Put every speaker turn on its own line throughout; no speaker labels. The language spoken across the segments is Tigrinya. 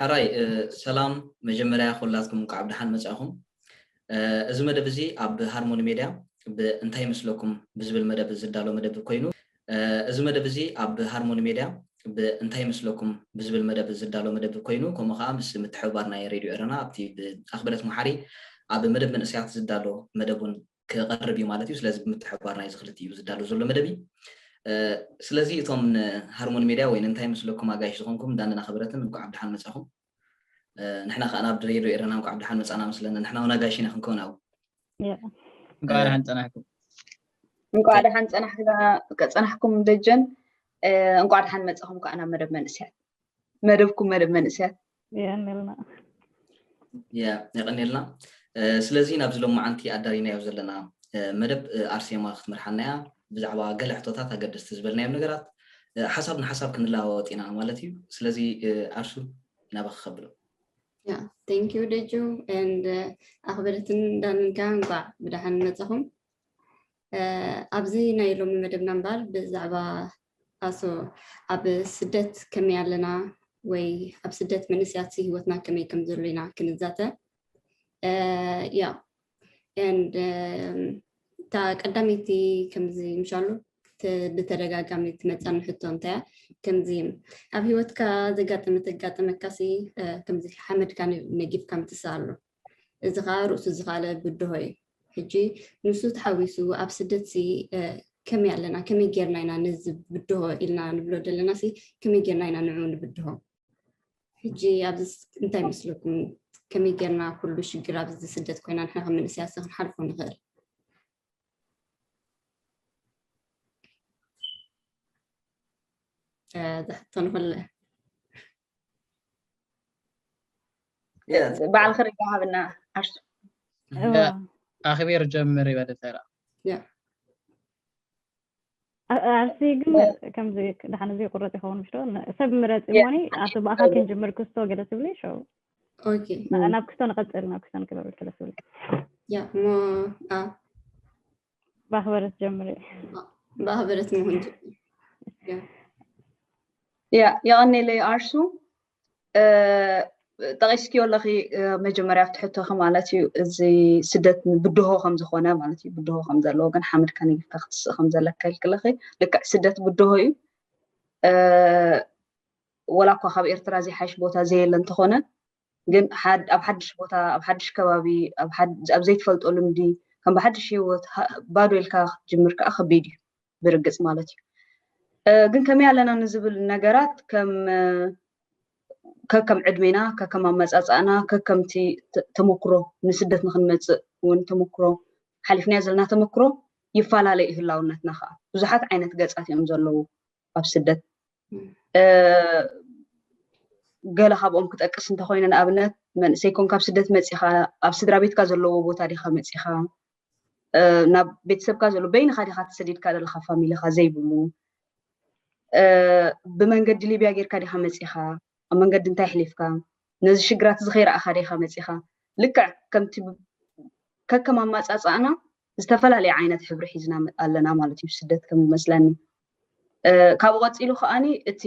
ሕራይ ሰላም መጀመርያ ኩላትኩም እንኳዕ ብደሓን መፃእኹም እዚ መደብ እዚ ኣብ ሃርሞኒ ሜድያ ብእንታይ ይመስለኩም ብዝብል መደብ ዝዳሎ መደብ ኮይኑ እዚ መደብ እዚ ኣብ ሃርሞኒ ሜድያ ብእንታይ ይመስለኩም ብዝብል መደብ ዝዳሎ መደብ ኮይኑ ከምኡ ከዓ ምስ ምትሕብባር ናይ ሬድዮ ኤረና ኣብቲ ብኣኽብረት መሓሪ ኣብ መደብ መንእሰያት ዝዳሎ መደብ እውን ክቐርብ እዩ ማለት እዩ። ስለዚ ብምትሕብባርና እዩ እዚ ክልቲኡ ዝዳሎ ዘሎ መደብ እዩ። ስለዚ እቶም ንሃርሞኒ ሜድያ ወይ ንእንታይ መስለኩም ኣጋይሽ ዝኾንኩም ዳንን ኣኸበረትን እንኳዕ ኣብ ድሓን መጻኹም ንሕና ከዓ ናብ ድሬዶ ኤረና እንኳዕ ኣብ ድሓን መጻና መስለና ንሕና እውን ኣጋይሽ ኢና ክንከውን ኣብ እንኳዕ
ድሓን ጸናሕኩም
እንኳዕ ድሓን ጸናሕኩም ደጀን እንኳዕ ድሓን መጻኹም ከዓ ናብ መደብ መንእስያት መደብኩም መደብ መንእሰያት የቀኒልና
የቀኒልና ስለዚ ናብዚ ሎማዓንቲ ኣዳሪናዮ ዘለና መደብ ኣርሴማ ክትመርሓና እያ ብዛዕባ ገለ ሕቶታት ኣገደስቲ ዝበልናዮም ነገራት ሓሳብ ንሓሳብ ክንለዋወጥ ኢና ማለት እዩ ስለዚ ኣርሱ ናባኺ ከብሎ Yeah,
thank you, Deju, and ኣኽበርትን ዳንጋ እንኳዕ ብደሓን መጻኹም። ኣብዚ ናይ ሎሚ መደብና እምበኣር ብዛዕባ ኣሶ ኣብ ስደት ከመይ ኣለና ወይ ኣብ ስደት መንእሰያት ህይወትና ከመይ ከም ዘሎ ኢና ክንዛተ ያ እታ ቀዳመይቲ ከምዚ ምሻሉ ብተደጋጋሚ ትመፃኒ ሕቶ እንታያ ከምዚ ኣብ ሂወትካ ዘጋጠመ ተጋጠመካሲ ከምዚ ሓመድካ ነጊፍካ ምትስእ ኣሎ እዚ ከኣ ርእሱ ዝኻለ ብድሆ እዩ። ሕጂ ንሱ ተሓዊሱ ኣብ ስደትሲ ከመይ ኣለና ከመይ ጌርና ኢና ነዚ ብድሆ ኢልና ንብሎ ደለናሲ ከመይ ጌርና ኢና ንዑ ንብድሆ? ሕጂ ኣብዚ እንታይ ይመስለኩም ከመይ ጌርና ኩሉ ሽግር ኣብዚ ስደት ኮይና ንሕና ከም መንእሰያትሲ ክንሓልፎ ንኽእል? ዝሕቶ ንኹለ
በዓል ክሪ ሃብና ዓርሱ ኣኽቢር
ጀምር ይበለ ተራ
ዓርሲ ግን ከምዚ ድሓን እዚ ቁረፅ ይኸውን ምሽ ሰብ ምረፅ ሞኒ ኣቶ ብኣኻ ክንጅምር ክስቶ ገለ ትብሊ ሸው
ናብ ክስቶ
ንቐፅል ናብ ክስቶ ንክበብል ገለ ትብሊ ያ እሞ
በአክብሮት
ጀምሪ በአክብሮት መሆን ያ የቀኔለይ አርሱ ጠቂስኪዮ ኣለኺ መጀመርያ ኣብቲ ሕቶኺ ማለት እዩ እዚ ስደት ብድሆ ከም ዝኾነ ማለት እዩ ብድሆ ከም ዘለዎ ግን ሓመድ ከነጊፍካ ክትስእ ከም ዘለካ ይልክለኺ ልክዕ ስደት ብድሆ እዩ ወላ እኳ ካብ ኤርትራ ዘይሓይሽ ቦታ ዘየለ እንተኾነ ግን ኣብ ሓድሽ ቦታ ኣብ ሓድሽ ከባቢ ኣብ ዘይትፈልጦ ልምዲ ከም ብሓድሽ ሂወት ባዶ ኢልካ ክትጅምር ከዓ ከቢድ እዩ ብርግፅ ማለት እዩ ግን ከመይ ኣለና ንዝብል ነገራት ከም ከከም ዕድሜና ከከም ኣመፃፃእና ከከምቲ ተመክሮ ንስደት ንክንመፅእ እውን ተመክሮ ሓሊፍናዮ ዘለና ተመክሮ ይፈላለ እዩ ህላውነትና ከዓ ብዙሓት ዓይነት ገፃት እዮም ዘለዉ ኣብ ስደት ገለ ካብኦም ክጠቅስ እንተኮይነ ንኣብነት መንእሰይ ኮን ካብ ስደት መፂኻ ኣብ ስድራ ቤትካ ዘለዎ ቦታ ዲኻ መፂኻ ናብ ቤተሰብካ ዘሎ በይንኻ ዲኻ ተሰዲድካ ዘለካ ፋሚሊኻ ዘይብሉ ብመንገዲ ሊብያ ጌርካ ዲኻ መፂኻ ኣብ መንገዲ እንታይ ሕሊፍካ ነዚ ሽግራት እዚ ከይረኣኻ ዲኻ መፂኻ ልክዕ ከምቲ ከከም ኣማፃፃእና ዝተፈላለየ ዓይነት ሕብሪ ሒዝና ኣለና ማለት እዩ ስደት ከም ዝመስለኒ ካብኡ ቀፂሉ ከዓኒ እቲ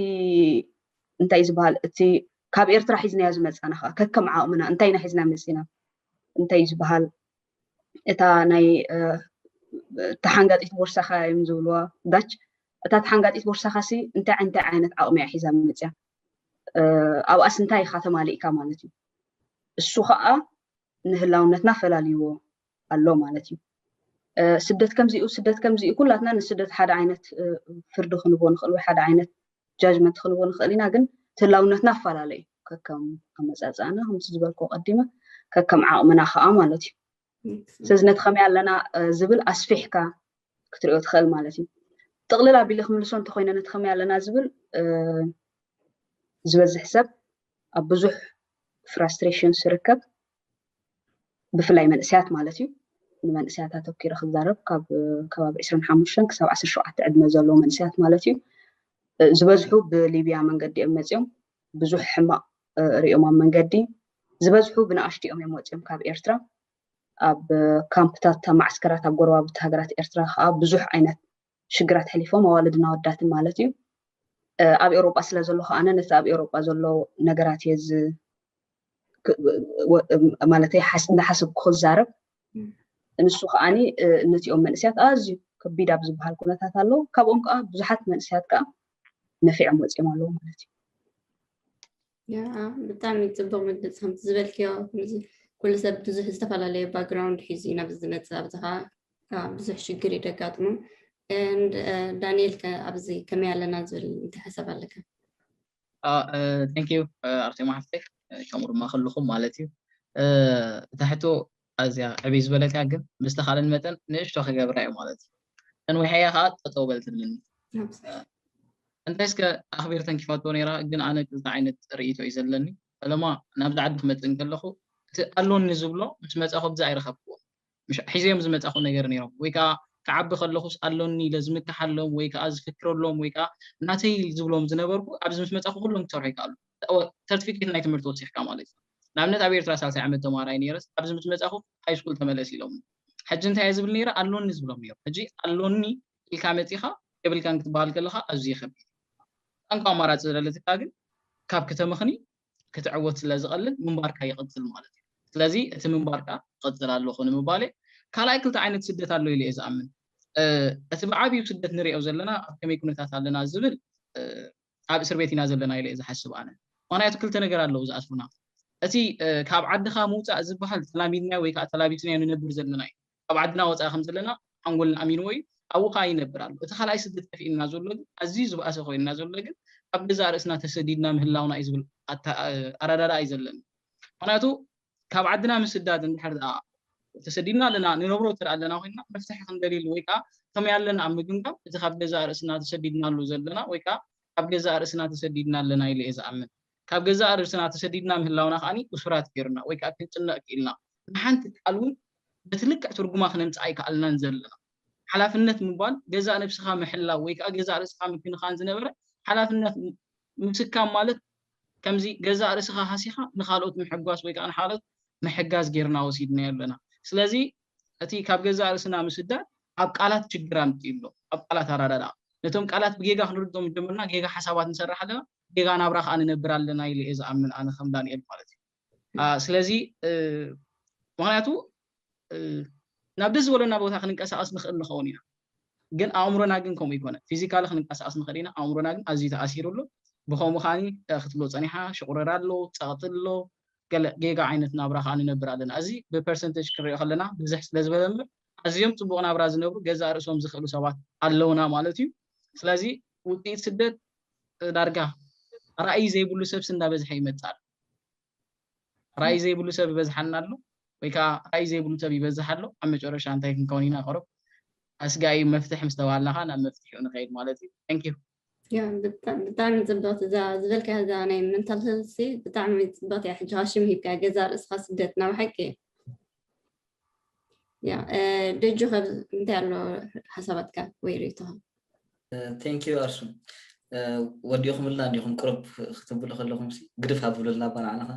እንታይ ዝበሃል እቲ ካብ ኤርትራ ሒዝናዮ ዝመፃና ከዓ ከከም ዓቕምና እንታይ ኢና ሒዝና መፂና እንታይ ዝበሃል እታ ናይ ተሓንጋጢት ቦርሳኻ እዮም ዝብልዋ ዳች እታ ተሓንጋጢት ቦርሳኻ ሲ እንታይ እንታይ ዓይነት ዓቕሚ እያ ሒዛ መፅያ ኣብኣስ እንታይ ኢኻ ተማሊእካ ማለት እዩ እሱ ከዓ ንህላውነትና ፈላልይዎ ኣሎ ማለት እዩ ስደት ከምዚኡ ስደት ከምዚኡ ኩላትና ንስደት ሓደ ዓይነት ፍርዲ ክንቦ ንኽእል ወይ ሓደ ዓይነት ጃጅመንት ክንቦ ንኽእል ኢና ግን ትላውነትና ኣፈላለ እዩ ከከም ኣመፃፅኣና ከምቲ ዝበልኮ ቀዲመ ከከም ዓቕምና ከዓ ማለት እዩ ስለዚ ነቲ ከመይ ኣለና ዝብል ኣስፊሕካ ክትሪኦ ትኽእል ማለት እዩ ጥቕልል ኣቢለ ክምልሶ እንተኮይነ ነቲ ከመይ ኣለና ዝብል ዝበዝሕ ሰብ ኣብ ብዙሕ ፍራስትሬሽን ዝርከብ ብፍላይ መንእሰያት ማለት እዩ ንመንእሰያት ኣተኪረ ክዛረብ ካብ ከባቢ 25 ክሳብ 17 ዕድመ ዘለዎ መንእሰያት ማለት እዩ ዝበዝሑ ብሊብያ መንገዲ እዮም መፅኦም ብዙሕ ሕማቕ ሪኦም ኣብ መንገዲ ዝበዝሑ ብንኣሽትኦም እዮም ወፅኦም ካብ ኤርትራ ኣብ ካምፕታት ኣብ ማዕስከራት ኣብ ጎረባብቲ ሃገራት ኤርትራ ከዓ ብዙሕ ዓይነት ሽግራት ሐሊፎም ኣዋልድን ኣወዳትን ማለት እዩ ኣብ ኤውሮጳ ስለ ዘለኹ ኣነ ነቲ ኣብ ኤውሮጳ ዘሎ ነገራት እየ ዝ ማለተይ እንዳሓሰብኩ ክዛረብ ንሱ ከዓኒ ነቲኦም መንእስያት ኣዝዩ ከቢድ ኣብ ዝበሃል ኩነታት ኣለዉ ካብኦም ከዓ ብዙሓት መንእስያት ከዓ ነፊዖም ወፂኦም ኣለዉ ማለት እዩ
ብጣዕሚ ፅቡቅ መግለፂ ከምቲ ዝበልክዮ ኩሉ ሰብ ብዙሕ ዝተፈላለየ ባክግራውንድ ሒዙ እዩ ናብ ዝመፅእ ኣብዚ ከዓ ብዙሕ ሽግር እዩ ደጋጥሙ ዳንኤል ከ ኣብዚ ከመይ ኣለና ዝብል እንታይ ሓሳብ ኣለካ ቴንክ ዩ ኣርቴማ
ሓፍተይ ከምኡ ድማ ክልኹም ማለት እዩ እታ ሕቶ ኣዝያ ዕብይ ዝበለትያ ግን ምስ ተኻለን መጠን ንእሽቶ ክገብራ እየ ማለት እዩ ተንዊሐያ ከኣ ጠጠው በል ትብለኒ እንታይ እስከ ኣኽቢር ተንኪፋቶ ነይራ ግን ኣነ ክልተ ዓይነት ርእይቶ እዩ ዘለኒ ፈለማ ናብዚ ዓዲ ክመጽእ እንከለኹ እቲ ኣሎኒ ዝብሎ ምስ መጻኹ ብዚ ኣይረኸብክዎን ምሽ ሒዘዮም ዝመጻኹ ነገር ነይሮም ወይ ከኣ ክዓቢ ከለኹስ ኣሎኒ ኢለ ዝምክሓሎም ወይ ከኣ ዝፍክረሎም ወይ ከኣ ናተይ ዝብሎም ዝነበርኩ ኣብዚ ምስ መጻኹ ኩሎም ክሰርሑ ይከኣሉ ሰርቲፊኬት ናይ ትምህርቲ ወሲኽካ ማለት እዩ ንኣብነት ኣብ ኤርትራ ሳልሳይ ዓመት ተማሃራይ ኔረስ ኣብዚ ምስ መጻኹ ሃይስኩል ተመለስ ኢሎምኒ ሕጂ እንታይ እየ ዝብል ኔረ ኣሎኒ ዝብሎም ኔሩ ሕጂ ኣሎኒ ኢልካ መጺኻ የብልካን ክትበሃል ከለኻ ኣዝዩ ከቢድ እዩ እታ እንኮ ኣማራጺ ዝለለትካ ግን ካብ ክተመኽኒ ክትዕወት ስለ ዝቐልል ምንባርካ ይቕጽል ማለት እዩ ስለዚ እቲ ምንባርካ እቕጽል ኣሎኹ ንምባል እየ ካልኣይ ክልተ ዓይነት ስደት ኣሎ ኢለ እየ ዝኣምን እቲ ብዓቢኡ ስደት ንሪኦ ዘለና ኣብ ከመይ ኩነታት ኣለና ዝብል ኣብ እስርቤት ኢና ዘለና ኢለ እየ ዝሓስብ ኣነ ምክንያቱ ክልተ ነገር ኣለው ዝኣስሩና እቲ ካብ ዓድካ ምውጻእ ዝብሃል ተላሚድናዮ ወይ ከኣ ተላቢስናዮ ንነብር ዘለና እዩ ካብ ዓድና ወጻኢ ከም ዘለና ሓንጎልና ኣሚንዎ እዩ ኣብኡ ከኣ ይነብር ኣሎ እቲ ካልኣይ ስደት ከፊእልና ዘሎ ግን ኣዝዩ ዝብኣሰ ኮይንና ዘሎ ግን ኣብ ገዛእ ርእስና ተሰዲድና ምህላውና እዩ ዝብል ኣረዳድኣ እዩ ዘለኒ ምክንያቱ ካብ ዓድና ምስዳድ እንድሕር ደኣ ተሰዲድና ኣለና ንነብሮ እንተ ኣለና ኮይንና መፍትሒ ክንደልየሉ ወይ ከኣ ከመይ ኣለና ኣብ ምግምጋም እቲ ካብ ገዛእ ርእስና ተሰዲድናሉ ዘለና ወይ ከኣ ካብ ገዛእ ርእስና ተሰዲድና ኣለና ኢለ እየ ዝኣምን። ካብ ገዛእ ርእስና ተሰዲድና ምህላውና ከኣ እሱራት ገይሩና ወይ ከኣ ክንጭነቕ ክኢልና ንሓንቲ ቃል እውን በቲ ልክዕ ትርጉማ ክነምጽኣ ኣይከኣልናን ዘለና። ሓላፍነት ምባል ገዛእ ነብስኻ ምሕላው ወይ ከኣ ገዛእ ርእስኻ ምክንኻን ዝነበረ ሓላፍነት ምስካም ማለት ከምዚ ገዛእ ርእስኻ ሃሲኻ ንኻልኦት ምሕጓስ ወይ ከኣ ንኻልኦት ምሕጋዝ ጌርና ወሲድናዮ ኣለና። ስለዚ እቲ ካብ ገዛእ ርእስና ምስዳድ ኣብ ቃላት ችግር ኣምጺኡ ኣሎ። ኣብ ቃላት ኣረዳድኣ። ነቶም ቃላት ብጌጋ ክንርድኦም ጀምርና ጌጋ ሓሳባት ንሰርሕ ኣለና፣ ጌጋ ናብራ ከኣ ንነብር ኣለና ኢለ እየ ዝኣምን ኣነ ከም ዳንኤል ማለት እዩ። ስለዚ ምክንያቱ ናብ ደስ ዝበለና ቦታ ክንንቀሳቀስ ንኽእል ንኸውን ኢና ግን ኣእምሮና ግን ከምኡ ይኮነ ፊዚካሊ ክንንቀሳቀስ ንኽእል ኢና ኣእምሮና ግን ኣዝዩ ተኣሲሩ ኣሎ ብከምኡ ከዓኒ ክትብሎ ፀኒሓ ሽቁረር ኣሎ ፀቕጢ ኣሎ ገለ ጌጋ ዓይነት ናብራ ከዓ ንነብር ኣለና እዚ ብፐርሰንቴጅ ክንሪኦ ከለና ብዝሕ ስለ ዝበለ እምበር ኣዝዮም ፅቡቅ ናብራ ዝነብሩ ገዛእ ርእሶም ዝኽእሉ ሰባት ኣለውና ማለት እዩ ስለዚ ውፅኢት ስደት ዳርጋ ራእይ ዘይብሉ ሰብሲ እንዳበዝሐ ይመፅእ ኣሎ ራእይ ዘይብሉ ሰብ ይበዝሓና ኣሎ ወይ ከዓ ራእይ ዘይብሉ ሰብ ይበዝሕ ኣሎ ኣብ መጨረሻ እንታይ ክንከውን ኢና ቅሩብ ኣስጋኢ መፍትሒ ምስ ተባሃልና ከዓ ናብ መፍትሒኡ ንኸይድ ማለት እዩ ታንክ ዩ
ብጣዕሚ ፅብቕቲ እዛ ዝበልካያ እዛ ናይ መንታል ሄልሲ ብጣዕሚ ፅብቕቲ እያ ሕጂ ሽም ሂብካ ገዛ ርእስኻ ስደት ናብ ሓቂ እዩ ያ ደጁ ከብ እንታይ ኣሎ ሓሳባትካ ወይ ርእቶኻ ቴንክ
ዩ ኣርሱ ወዲኹምልና እንዲኹም ቅሩብ ክትብሉ ከለኹም ግድፍ ኣብብሉልና ባ ንዓናኻ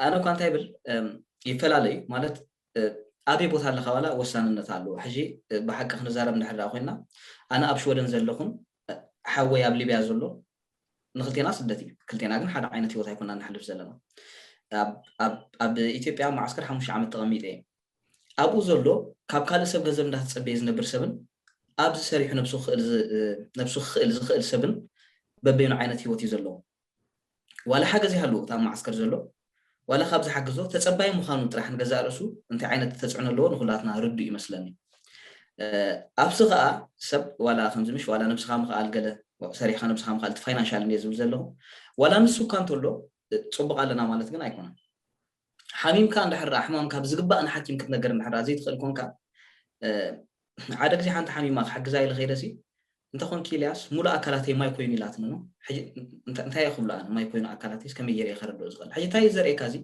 ኣነ እኳ እንታይ ብል ይፈላለዩ ማለት ኣበይ ቦታ ኣለካ ዋላ ወሳንነት ኣለዎ ሕጂ ብሓቂ ክንዛረብ እንድሕር ኮይና ኣነ ኣብ ሽወደን ዘለኹን ሓወይ ኣብ ሊብያ ዘሎ ንክልቴና ስደት እዩ ክልቴና ግን ሓደ ዓይነት ሂወት ኣይኮናን ነሕልፍ ዘለና ኣብ ኢትዮጵያ መዓስከር ሓሙሽተ ዓመት ተቐሚጠ እየ ኣብኡ ዘሎ ካብ ካልእ ሰብ ገንዘብ እንዳተጸበየ ዝነብር ሰብን ኣብዚ ሰሪሑ ነብሱ ክኽእል ዝኽእል ሰብን በበይኑ ዓይነት ሂወት እዩ ዘለዎ ዋላ ሓገዝ ይሃልዎ እቲ ኣብ መዓስከር ዘሎ ዋላ ካብ ዝሓግዞ ተጸባይ ምዃኑ ጥራሕ ንገዛእ ርእሱ እንታይ ዓይነት ተጽዕኖ ኣለዎ ንኹላትና ርዱእ እዩ መስለኒ። ኣብሲ ከኣ ሰብ ዋላ ከምዚ ምሽ ዋላ ነብስኻ ምኽኣል ገለ ሰሪሕኻ ነብስኻ ምኽኣል እቲ ፋይናንሻል እንድየ ዝብል ዘለኹ ዋላ ንሱ እኳ እንተሎ ጽቡቕ ኣለና ማለት ግን ኣይኮነን። ሓሚምካ እንድሕር ድኣ ሕማምካ ብዝግባእ ንሓኪም ክትነግር እንድሕር ድኣ ዘይትኽእል ኰንካ፣ ሓደ ግዜ ሓንቲ ሓሚማ ክሕግዛ ኢለ ከይደሲ፣ እንተ ኰንኪ ኢልያስ ምሉእ ኣካላተይ ማይ ኰይኑ ኢላትኒ እሞ ሕጂ እንታይ እየ ክብሎ ኣነ ማይ ኰይኑ ኣካላተይስ ከመይ ገይረ እየ ከረድኦ ዝኽእል ሕጂ እንታይ እዩ ዘርእየካ እዚ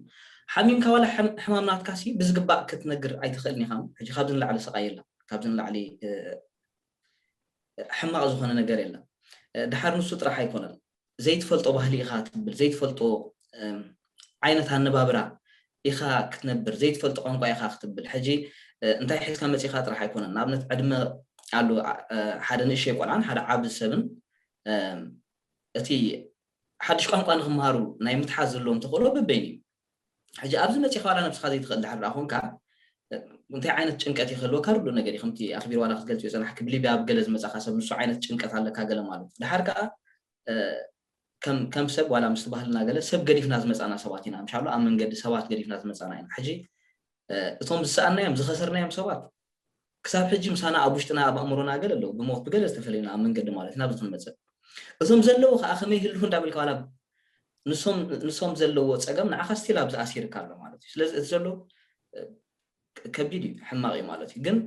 ሓሚምካ ዋላ ሕማም ናትካሲ ብዝግባእ ክትነግር ኣይትኽእልን ኢኻ እሞ ሕጂ ካብዚ ንላዕሊ ስቓይ የለን ካብዚ ንላዕሊ ሕማቕ ዝኾነ ነገር የለን ድሓር ንሱ ጥራሕ ኣይኮነን ዘይትፈልጦ ባህሊ ኢኻ ትብል፣ ዘይትፈልጦ ዓይነት ኣነባብራ ኢኻ ክትነብር፣ ዘይትፈልጦ ቋንቋ ኢኻ ክትብል፣ ሕጂ እንታይ ሒዝካ መጺእካ ጥራሕ ኣይኮነን፣ ንኣብነት ዕድመ ኣሉ ሓደ ንእሸይ ቆልዓን ሓደ ዓቢ ሰብን እቲ ሓድሽ ቋንቋ ንኽመሃሩ ናይ ምትሓዝ ዘለዎም ተኽእሎ በበይኑ እዩ። ሕጂ ኣብዚ መጺኻ ዋላ ነብስኻ ዘይትኽእል ድሓር ድኣ ኮንካ እንታይ ዓይነት ጭንቀት እዩ ክህልወካ ርዱእ ነገር እዩ ከምቲ ኣኽቢር ዋላ ክትገልጽዮ ጸናሕኪ ብሊብያ ኣብ ገለ ዝመጻኻ ሰብ ንሱ ዓይነት ጭንቀት ኣለካ ገለ ማለት ድሓር ከኣ ከም ከም ሰብ ዋላ ምስቲ ባህልና ገለ ሰብ ገዲፍና ዝመጻና ሰባት ኢና ምሻሎ ኣብ መንገዲ ሰባት ገዲፍና ዝመጻና ኢና ሕጂ እቶም ዝሰኣናዮም ዝኸሰርናዮም ሰባት ክሳብ ሕጂ ምሳና ኣብ ውሽጥና ኣብ ኣእምሮና ገለ ኣለዉ ብሞት ብገለ ዝተፈለዩና ኣብ መንገዲ ማለት ናብዚ ክንመጽእ እዞም ዘለዉ ከኣ ከመይ ይህልዉ እንዳበልካ ዋላ ንሶም ንሶም ዘለዎ ጸገም ንዓኻ ስቲል ኣብዚ ኣሲርካ ኣሎ ማለት እዩ ስለዚ እቲ ዘሎ ከቢድ እዩ ሕማቕ እዩ ማለት እዩ ግን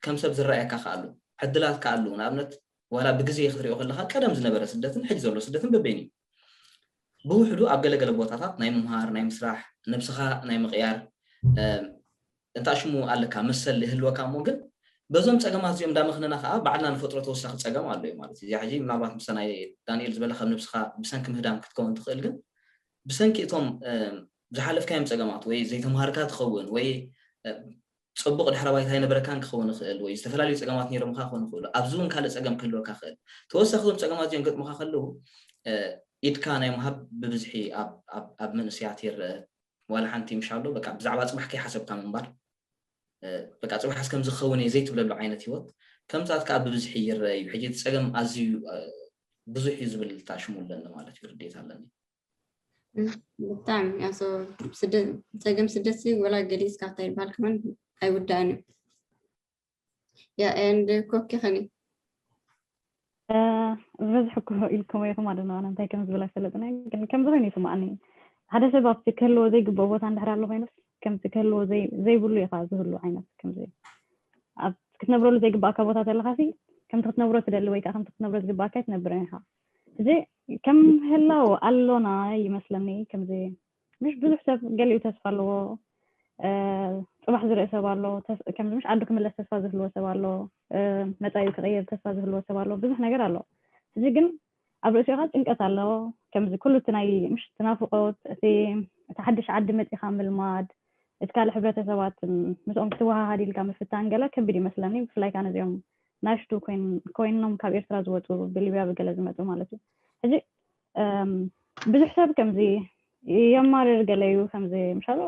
ከም ሰብ ዝረኣየካ ከኣ ኣሎ ዕድላትካ ኣለዉ ንኣብነት ዋላ ብግዜ ክትሪኦ ከለካ ቀደም ዝነበረ ስደትን ሕጂ ዘሎ ስደትን በበይኑ እዩ ብውሕዱ ኣብ ገለ ገለ ቦታታት ናይ ምምሃር፣ ናይ ምስራሕ፣ ነብስኻ ናይ ምቕያር እንታሽሙ ኣለካ መሰል ይህልወካ እሞ ግን በዞም ጸገማት እዚኦም እንዳመኽነና ከኣ ባዕልና ንፈጥሮ ተወሳኺ ጸገም ኣሎ እዩ ማለት እዩ። እዚኣ ሕጂ ምናልባት ምስታ ናይ ዳንኤል ዝበላ ካብ ነብስኻ ብሰንኪ ምህዳም ክትከውን ትኽእል ግን ብሰንኪ እቶም ዝሓለፍካዮም ጸገማት ወይ ዘይተማሃርካ ትኸውን ወይ ጽቡቕ ድሕረ ባይታ ኣይነበረካን ክኸውን ይኽእል ወይ ዝተፈላለዩ ጸገማት ነይሮምኻ ክኾኑ ይኽእሉ። ኣብዚ እውን ካልእ ጸገም ክህልወካ ይኽእል። ተወሳኺ እዞም ጸገማት እዚኦም ክገጥሙኻ ከለዉ ኢድካ ናይ ምሃብ ብብዝሒ ኣብ መንእሰያት ይረኣ። ዋላ ሓንቲ ምሻሎ በቃ ብዛዕባ ጽባሕ ከይሓሰብካ ምንባር በቃ ጽባሕስ ከምዚ ክኸውን እየ ዘይትብለሉ ዓይነት ህይወት ከምታት ከዓ ብብዝሒ ይረአ እዩ። ሕጂ እቲ ጸገም ኣዝዩ ብዙሕ እዩ ዝብል እታ ሽሙ ኣለኒ ማለት እዩ ርድኢት ኣለኒ።
ብጣዕሚ ኣሶ ስደት ፀገም ስደት ወላ ገሊፅካ እንታይ ይበሃል ከማን ኣይውዳእን እዩ ያ ኤንድ ኮኪ ከኒ
ዝበዝሕ እኮ ኢልኩም ኢኹም ኣደና እንታይ ከም ዝብል ኣይፈለጥነ ግን ከምዚ ኮይኑ ይስማዕኒ ሓደ ሰብ ኣብቲ ክህልዎ ዘይግብኦ ቦታ እንድሕር ኣሎ ኮይኑስ ከምቲ ክህልዎ ዘይብሉ ኢኻ ዝህሉ ዓይነት ከምዚ ኣብ ክትነብረሉ ዘይግባእካ ቦታ ተለኻሲ ከምቲ ክትነብሮ ትደሊ ወይ ከዓ ከምቲ ክትነብሮ ዝግባእካ ኣይትነብርን ኢኻ እዚ ከም ህላው ኣሎና ይመስለኒ ከምዚ ምሽ ብዙሕ ሰብ ገሊኡ ተስፋ ኣለዎ ፅባሕ ዝርእ ሰብ ኣሎ ከምዚ ምሽ ዓዱ ክምለስ ተስፋ ዝህልዎ ሰብ ኣሎ መፃኢ ክቕየር ተስፋ ዝህልዎ ሰብ ኣሎ ብዙሕ ነገር ኣሎ እዚ ግን ኣብ ርእሲኡ ከዓ ጭንቀት ኣሎ ከምዚ ኩሉ እቲ ናይ ምሽ ትናፍቆት እቲ እቲ ሓድሽ ዓዲ መፂኻ ምልማድ እቲ ካልእ ሕብረተሰባት ምስኦም ክትወሃሃድ ኢልካ ምፍታን ገለ ከቢድ ይመስለኒ ብፍላይ ከዓ ነዚኦም ናሽቱ ኮይኖም ካብ ኤርትራ ዝወፁ ብሊብያ ብገለ ዝመፁ ማለት እዩ ሕዚ ብዙሕ ሰብ ከምዚ የማርር ገለ እዩ ከምዚ ምሻሎ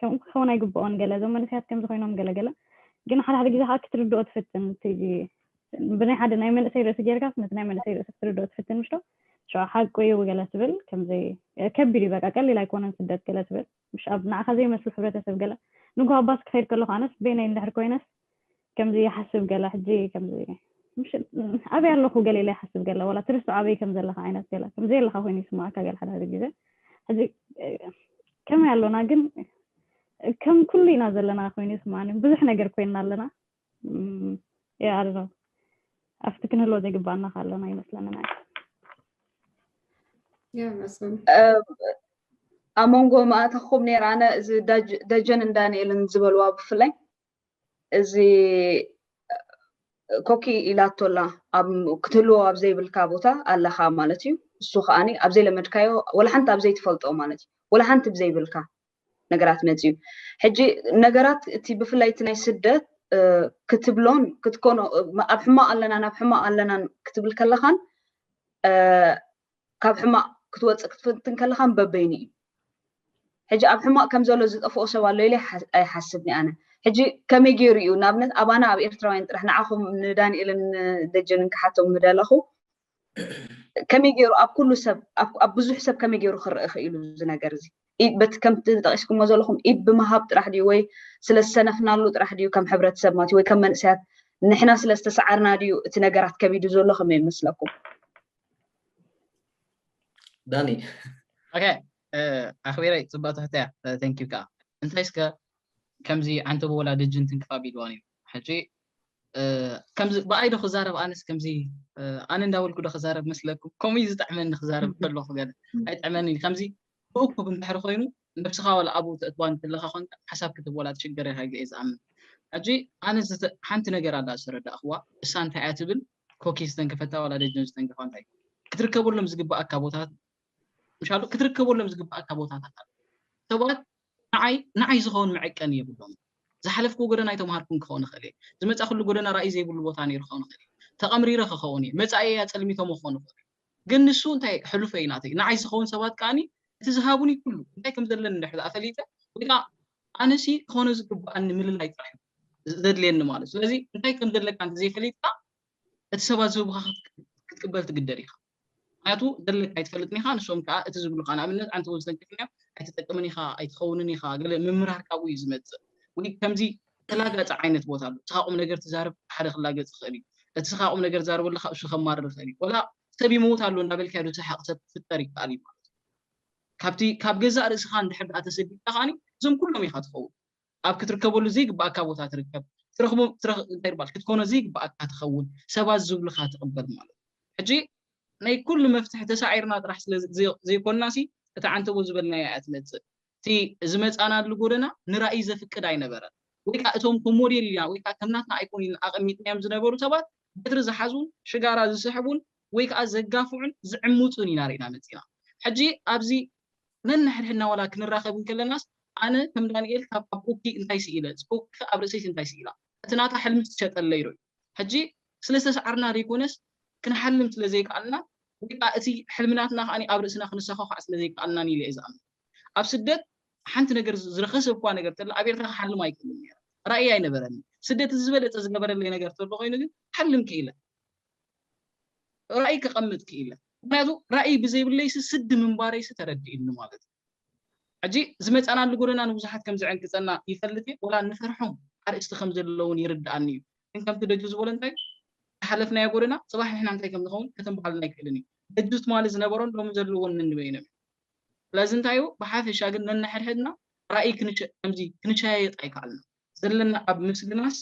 ከምኡ ክኸውን ኣይግብኦን ገለ እዞም መንእሰያት ከምዚ ኮይኖም ገለ ገለ ግን ሓደ ሓደ ግዜ ከዓ ክትርድኦ ትፍትን እቲ ብናይ ሓደ ናይ መንእሰይ ርእሲ ጌርካስ ነቲ ናይ መንእሰይ ርእሲ ክትርድኦ ትፍትን ምሽቶ ሸ ሓቁ እዩ ገለ ትብል ከምዚ ከቢድ እዩ በቃ ቀሊል ኣይኮነን ስደት ገለ ትብል ምሽ ኣብ ንዓኻ ዘይመስል ሕብረተሰብ ገለ ንጉሆ ባስ ክኸይድ ከለኹ ኣነስ በይነይ እንድሕር ኮይነስ ከምዚ ይሓስብ ገለ ሕጂ ከምዚ ምሽ ኣበይ ኣለኹ ገለ ኢለ ይሓስብ ገለ ወላ ትርስዖ ኣበይ ከም ዘለኻ ዓይነት ገለ ከም ዘየለኻ ኮይኑ ይስምዓካ ገለ ሓደ ሓደ ግዜ ሕጂ ከመይ ኣሎና ግን ከም ኩሉ ኢና ዘለና ኮይኑ ይስምዓኒ ብዙሕ ነገር ኮይንና ኣለና ያ ኣለ ኣብቲ ክንህልዎ ዘይግባኣና ካለና ይመስለንን
ኣብ መንጎ ማእታኹም ነይረ ኣነ እዚ ደጀን እንዳንኤልን ዝበልዋ ብፍላይ እዚ ኮኪ ኢላቶ ኣላ ክትህልዎ ኣብ ዘይብልካ ቦታ ኣለኻ ማለት እዩ እሱ ከዓኒ ኣብ ዘይለመድካዮ ወላ ሓንቲ ኣብ ዘይትፈልጦ ማለት እዩ ወላ ሓንቲ ብዘይብልካ ነገራት መፅዩ ሕጂ ነገራት እቲ ብፍላይ እቲ ናይ ስደት ክትብሎን ክትኮኖ ኣብ ሕማቕ ኣለናን ኣብ ሕማቕ ኣለናን ክትብል ከለኻን ካብ ሕማቕ ክትወፅእ ክትፍትን ከለኻን በበይኑ እዩ ሕጂ ኣብ ሕማቕ ከም ዘሎ ዝጠፍኦ ሰብ ኣሎ ኢለ ኣይሓስብኒ ኣነ ሕጂ ከመይ ገይሩ እዩ ንኣብነት ኣባና ኣብ ኤርትራውያን ጥራሕ ንዓኹም ንዳንኤልን ደጀንን ክሓቶም ምደለኹ ከመይ ገይሩ ኣብ ኩሉ ሰብ ኣብ ብዙሕ ሰብ ከመይ ገይሩ ክረአ ክኢሉ እዚ ነገር እዚ በቲ ከምቲ ጠቂስኩሞ ዘለኹም ኢድ ብምሃብ ጥራሕ ድዩ ወይ ስለ ዝሰነፍናሉ ጥራሕ ድዩ ከም ሕብረተሰብ ማለት ወይ ከም መንእሰያት ንሕና ስለ ዝተሰዓርና ድዩ እቲ ነገራት ከቢዱ ዘሎ ከመይ ይመስለኩም
ዳኒ ኦኬ
ኣኽቢረይ ፅቡቅ ትሕተያ ተንኪዩ ከዓ እንታይ እስከ ከምዚ ዓንተቦ ወላ ደጅን ትንክፍ ኣቢልዋን እዩ ሕጂ ከምዚ ብኣይ ዶ ክዛረብ ኣነስ ከምዚ ኣነ እንዳበልኩ ዶ ክዛረብ መስለኩም ከምኡ እዩ ዝጥዕመኒ ክዛረብ ከለኹ ገለ ኣይጥዕመኒ እዩ ከምዚ ብእኩብ እንድሕሪ ኮይኑ ነብስኻ ዋላ ኣብኡ ተእትዋ እንተለኻ ኮንካ ሓሳብ ክትህብ ዋላ ትሽገር ኢኻ ኢለ እየ ዝኣምን ሕጂ ኣነ ሓንቲ ነገር ኣላ ዝተረዳእኽዋ እሳ እንታይ እያ ትብል ኮኪ ዝተንከፈታ ዋላ ደጀን ዝተንከፋ እንታይ ክትርከበሎም ዝግብኣካ ቦታታት ምሻሉ ክትርከበሎም ዝግብኣካ ቦታታት ኣሉ ሰባት ንዓይ ንዓይ ዝኸውን መዐቀኒ የብሎምን። ዝሓለፍክዎ ጎደና ኣይተምሃርኩን ክኸውን እኽእል እየ። ዝመጻእክሉ ጎደና ራእይ ዘይብሉ ቦታ ነይሩ ክኸውን እኽእል እየ። ተቐምሪረ ክኸውን እየ። መጻኢየይ ኣጸልሚቶሞ ክኾኑ ይኽእሉ እዮም። ግን ንሱ እንታይ ሕሉፈይ እዩ ናተይ። ንዓይ ዝኸውን ሰባት ከኣ እቲ ዝሃቡኒ ኩሉ እንታይ ከም ዘለኒ እንድሕር ደኣ ፈሊጠ ወይ ከኣ ኣነሲ ክኾኖ ዝግብኣኒ ምልላይ ጥራሕ እዩ ዘድልየኒ ማለት እዩ። ስለዚ እንታይ ከም ዘለካ እንተ ዘይፈሊጥካ እቲ ሰባት ዝህቡኻ ክትቅበል ትግደድ ኢኻ። ምኽንያቱ ዘለካ ኣይትፈልጥን ኢኻ ንሶም ከኣ እቲ ዝብሉኻ ንኣብነት ኣንተ ወዝተ እንቅልፍኛ ኣይትጠቅምን ኢኻ ኣይትኸውንን ኢኻ ገለ ምምራር ካብኡ እዩ ዝመጽእ ወይ ከምዚ ተላጋጺ ዓይነት ቦታ ኣሎ እስኻ ቁምነገር ትዛረብ ሓደ ክላገጽ ይኽእል እዩ እቲ እስኻ ቁምነገር ትዛረቦ ኣለኻ እሱ ከማርር ይኽእል እዩ ወላ ሰብ ይመውት ኣሎ እንዳበልካዮ ድትስሕቅ ሰብ ክፍጠር ይከኣል እዩ ማለት እዩ ካብቲ ካብ ገዛእ ርእስኻ እንድሕር ደኣ ተሰዲድካ ከኣ እዞም ኩሎም ኢኻ ትኸውን ኣብ ክትርከበሉ ዘይግብኣካ ቦታ ትርከብ ትረኽቦም ትረኽ እንታይ ድባል ክትኮኖ ዘይግብኣካ ትኸውን ሰባት ዝብሉኻ ትቕበል ማለት ሕጂ ናይ ኩሉ መፍትሒ ተሳዒርና ጥራሕ ስለ ዘይኮንናሲ እታ ዓንተቦ ዝበልናያ እያ ትመጽእ እቲ ዝመጻናሉ ጎደና ንራኢ ዘፍቅድ ኣይነበረን ወይ ከኣ እቶም ከም ሞዴል ኢልና ወይ ከኣ ከም ናትና ኣይኮን ኢልና ኣቐሚጥናዮም ዝነበሩ ሰባት በትሪ ዝሓዙን ሽጋራ ዝስሕቡን ወይ ከኣ ዘጋፍዑን ዝዕምጹን ኢና ርኢና መጺና ሕጂ ኣብዚ ነንሕድሕድና ዋላ ክንራኸብ እንከለናስ ኣነ ከም ዳኒኤል ካብ ኣብ ኡኪ እንታይ ስኢለ ኡኪኸ ኣብ ርእሰይስ እንታይ ስኢላ እቲ ናታ ሕልሚ ዝሸጠለይ ዶ እዩ ሕጂ ስለ ዝተሳዓርና ዘይኮነስ ክንሓልም ስለ ዘይከኣልና ወይ ከኣ እቲ ሕልሚ ናትና ከኣ ኣብ ርእስና ክንሰዃዃዕ ስለ ዘይከኣልናን ኢለ እየ ዝኣምን ኣብ ስደት ሓንቲ ነገር ዝረኸሰ እኳ ነገር ተላ ኣብ ኤርትራ ክሓልም ኣይክእልን ነይረ ራእይ ኣይነበረኒ ስደት እቲ ዝበለጸ ዝገበረለይ ነገር ተሎ ኮይኑ ግን ክሓልም ክኢለ ራእይ ከቐምጥ ክኢለ። ምኽንያቱ ራእይ ብዘይብለይሲ ስዲ ምንባረይሲ ተረዲኡኒ ማለት እዩ። ሕጂ ዝመጻናሉ ጎደና ንብዙሓት ከም ዝዕንቅጸና ይፈልጥ እየ፣ ወላ እንፈርሖም ኣርእስቲ ከም ዘሎ እውን ይርድኣኒ እዩ። ግን ከምቲ ደጁ ዝበሎ እንታይ እዩ፣ ዝሓለፍናዮ ጎደና ጽባሕ ንሕና እንታይ ከም ንኸውን ከተንብሃልና ኣይክእልን እዩ። ደጁ ትማሊ ዝነበሮን ሎሚ ዘለዎን ነንበይኖም እዮም። ስለዚ እንታይ እዩ፣ ብሓፈሻ ግን ነንሕድሕድና ራእይ ከምዚ ክንሸያየጥ ኣይከኣልናን። ዘለና ኣብ ምስግናስ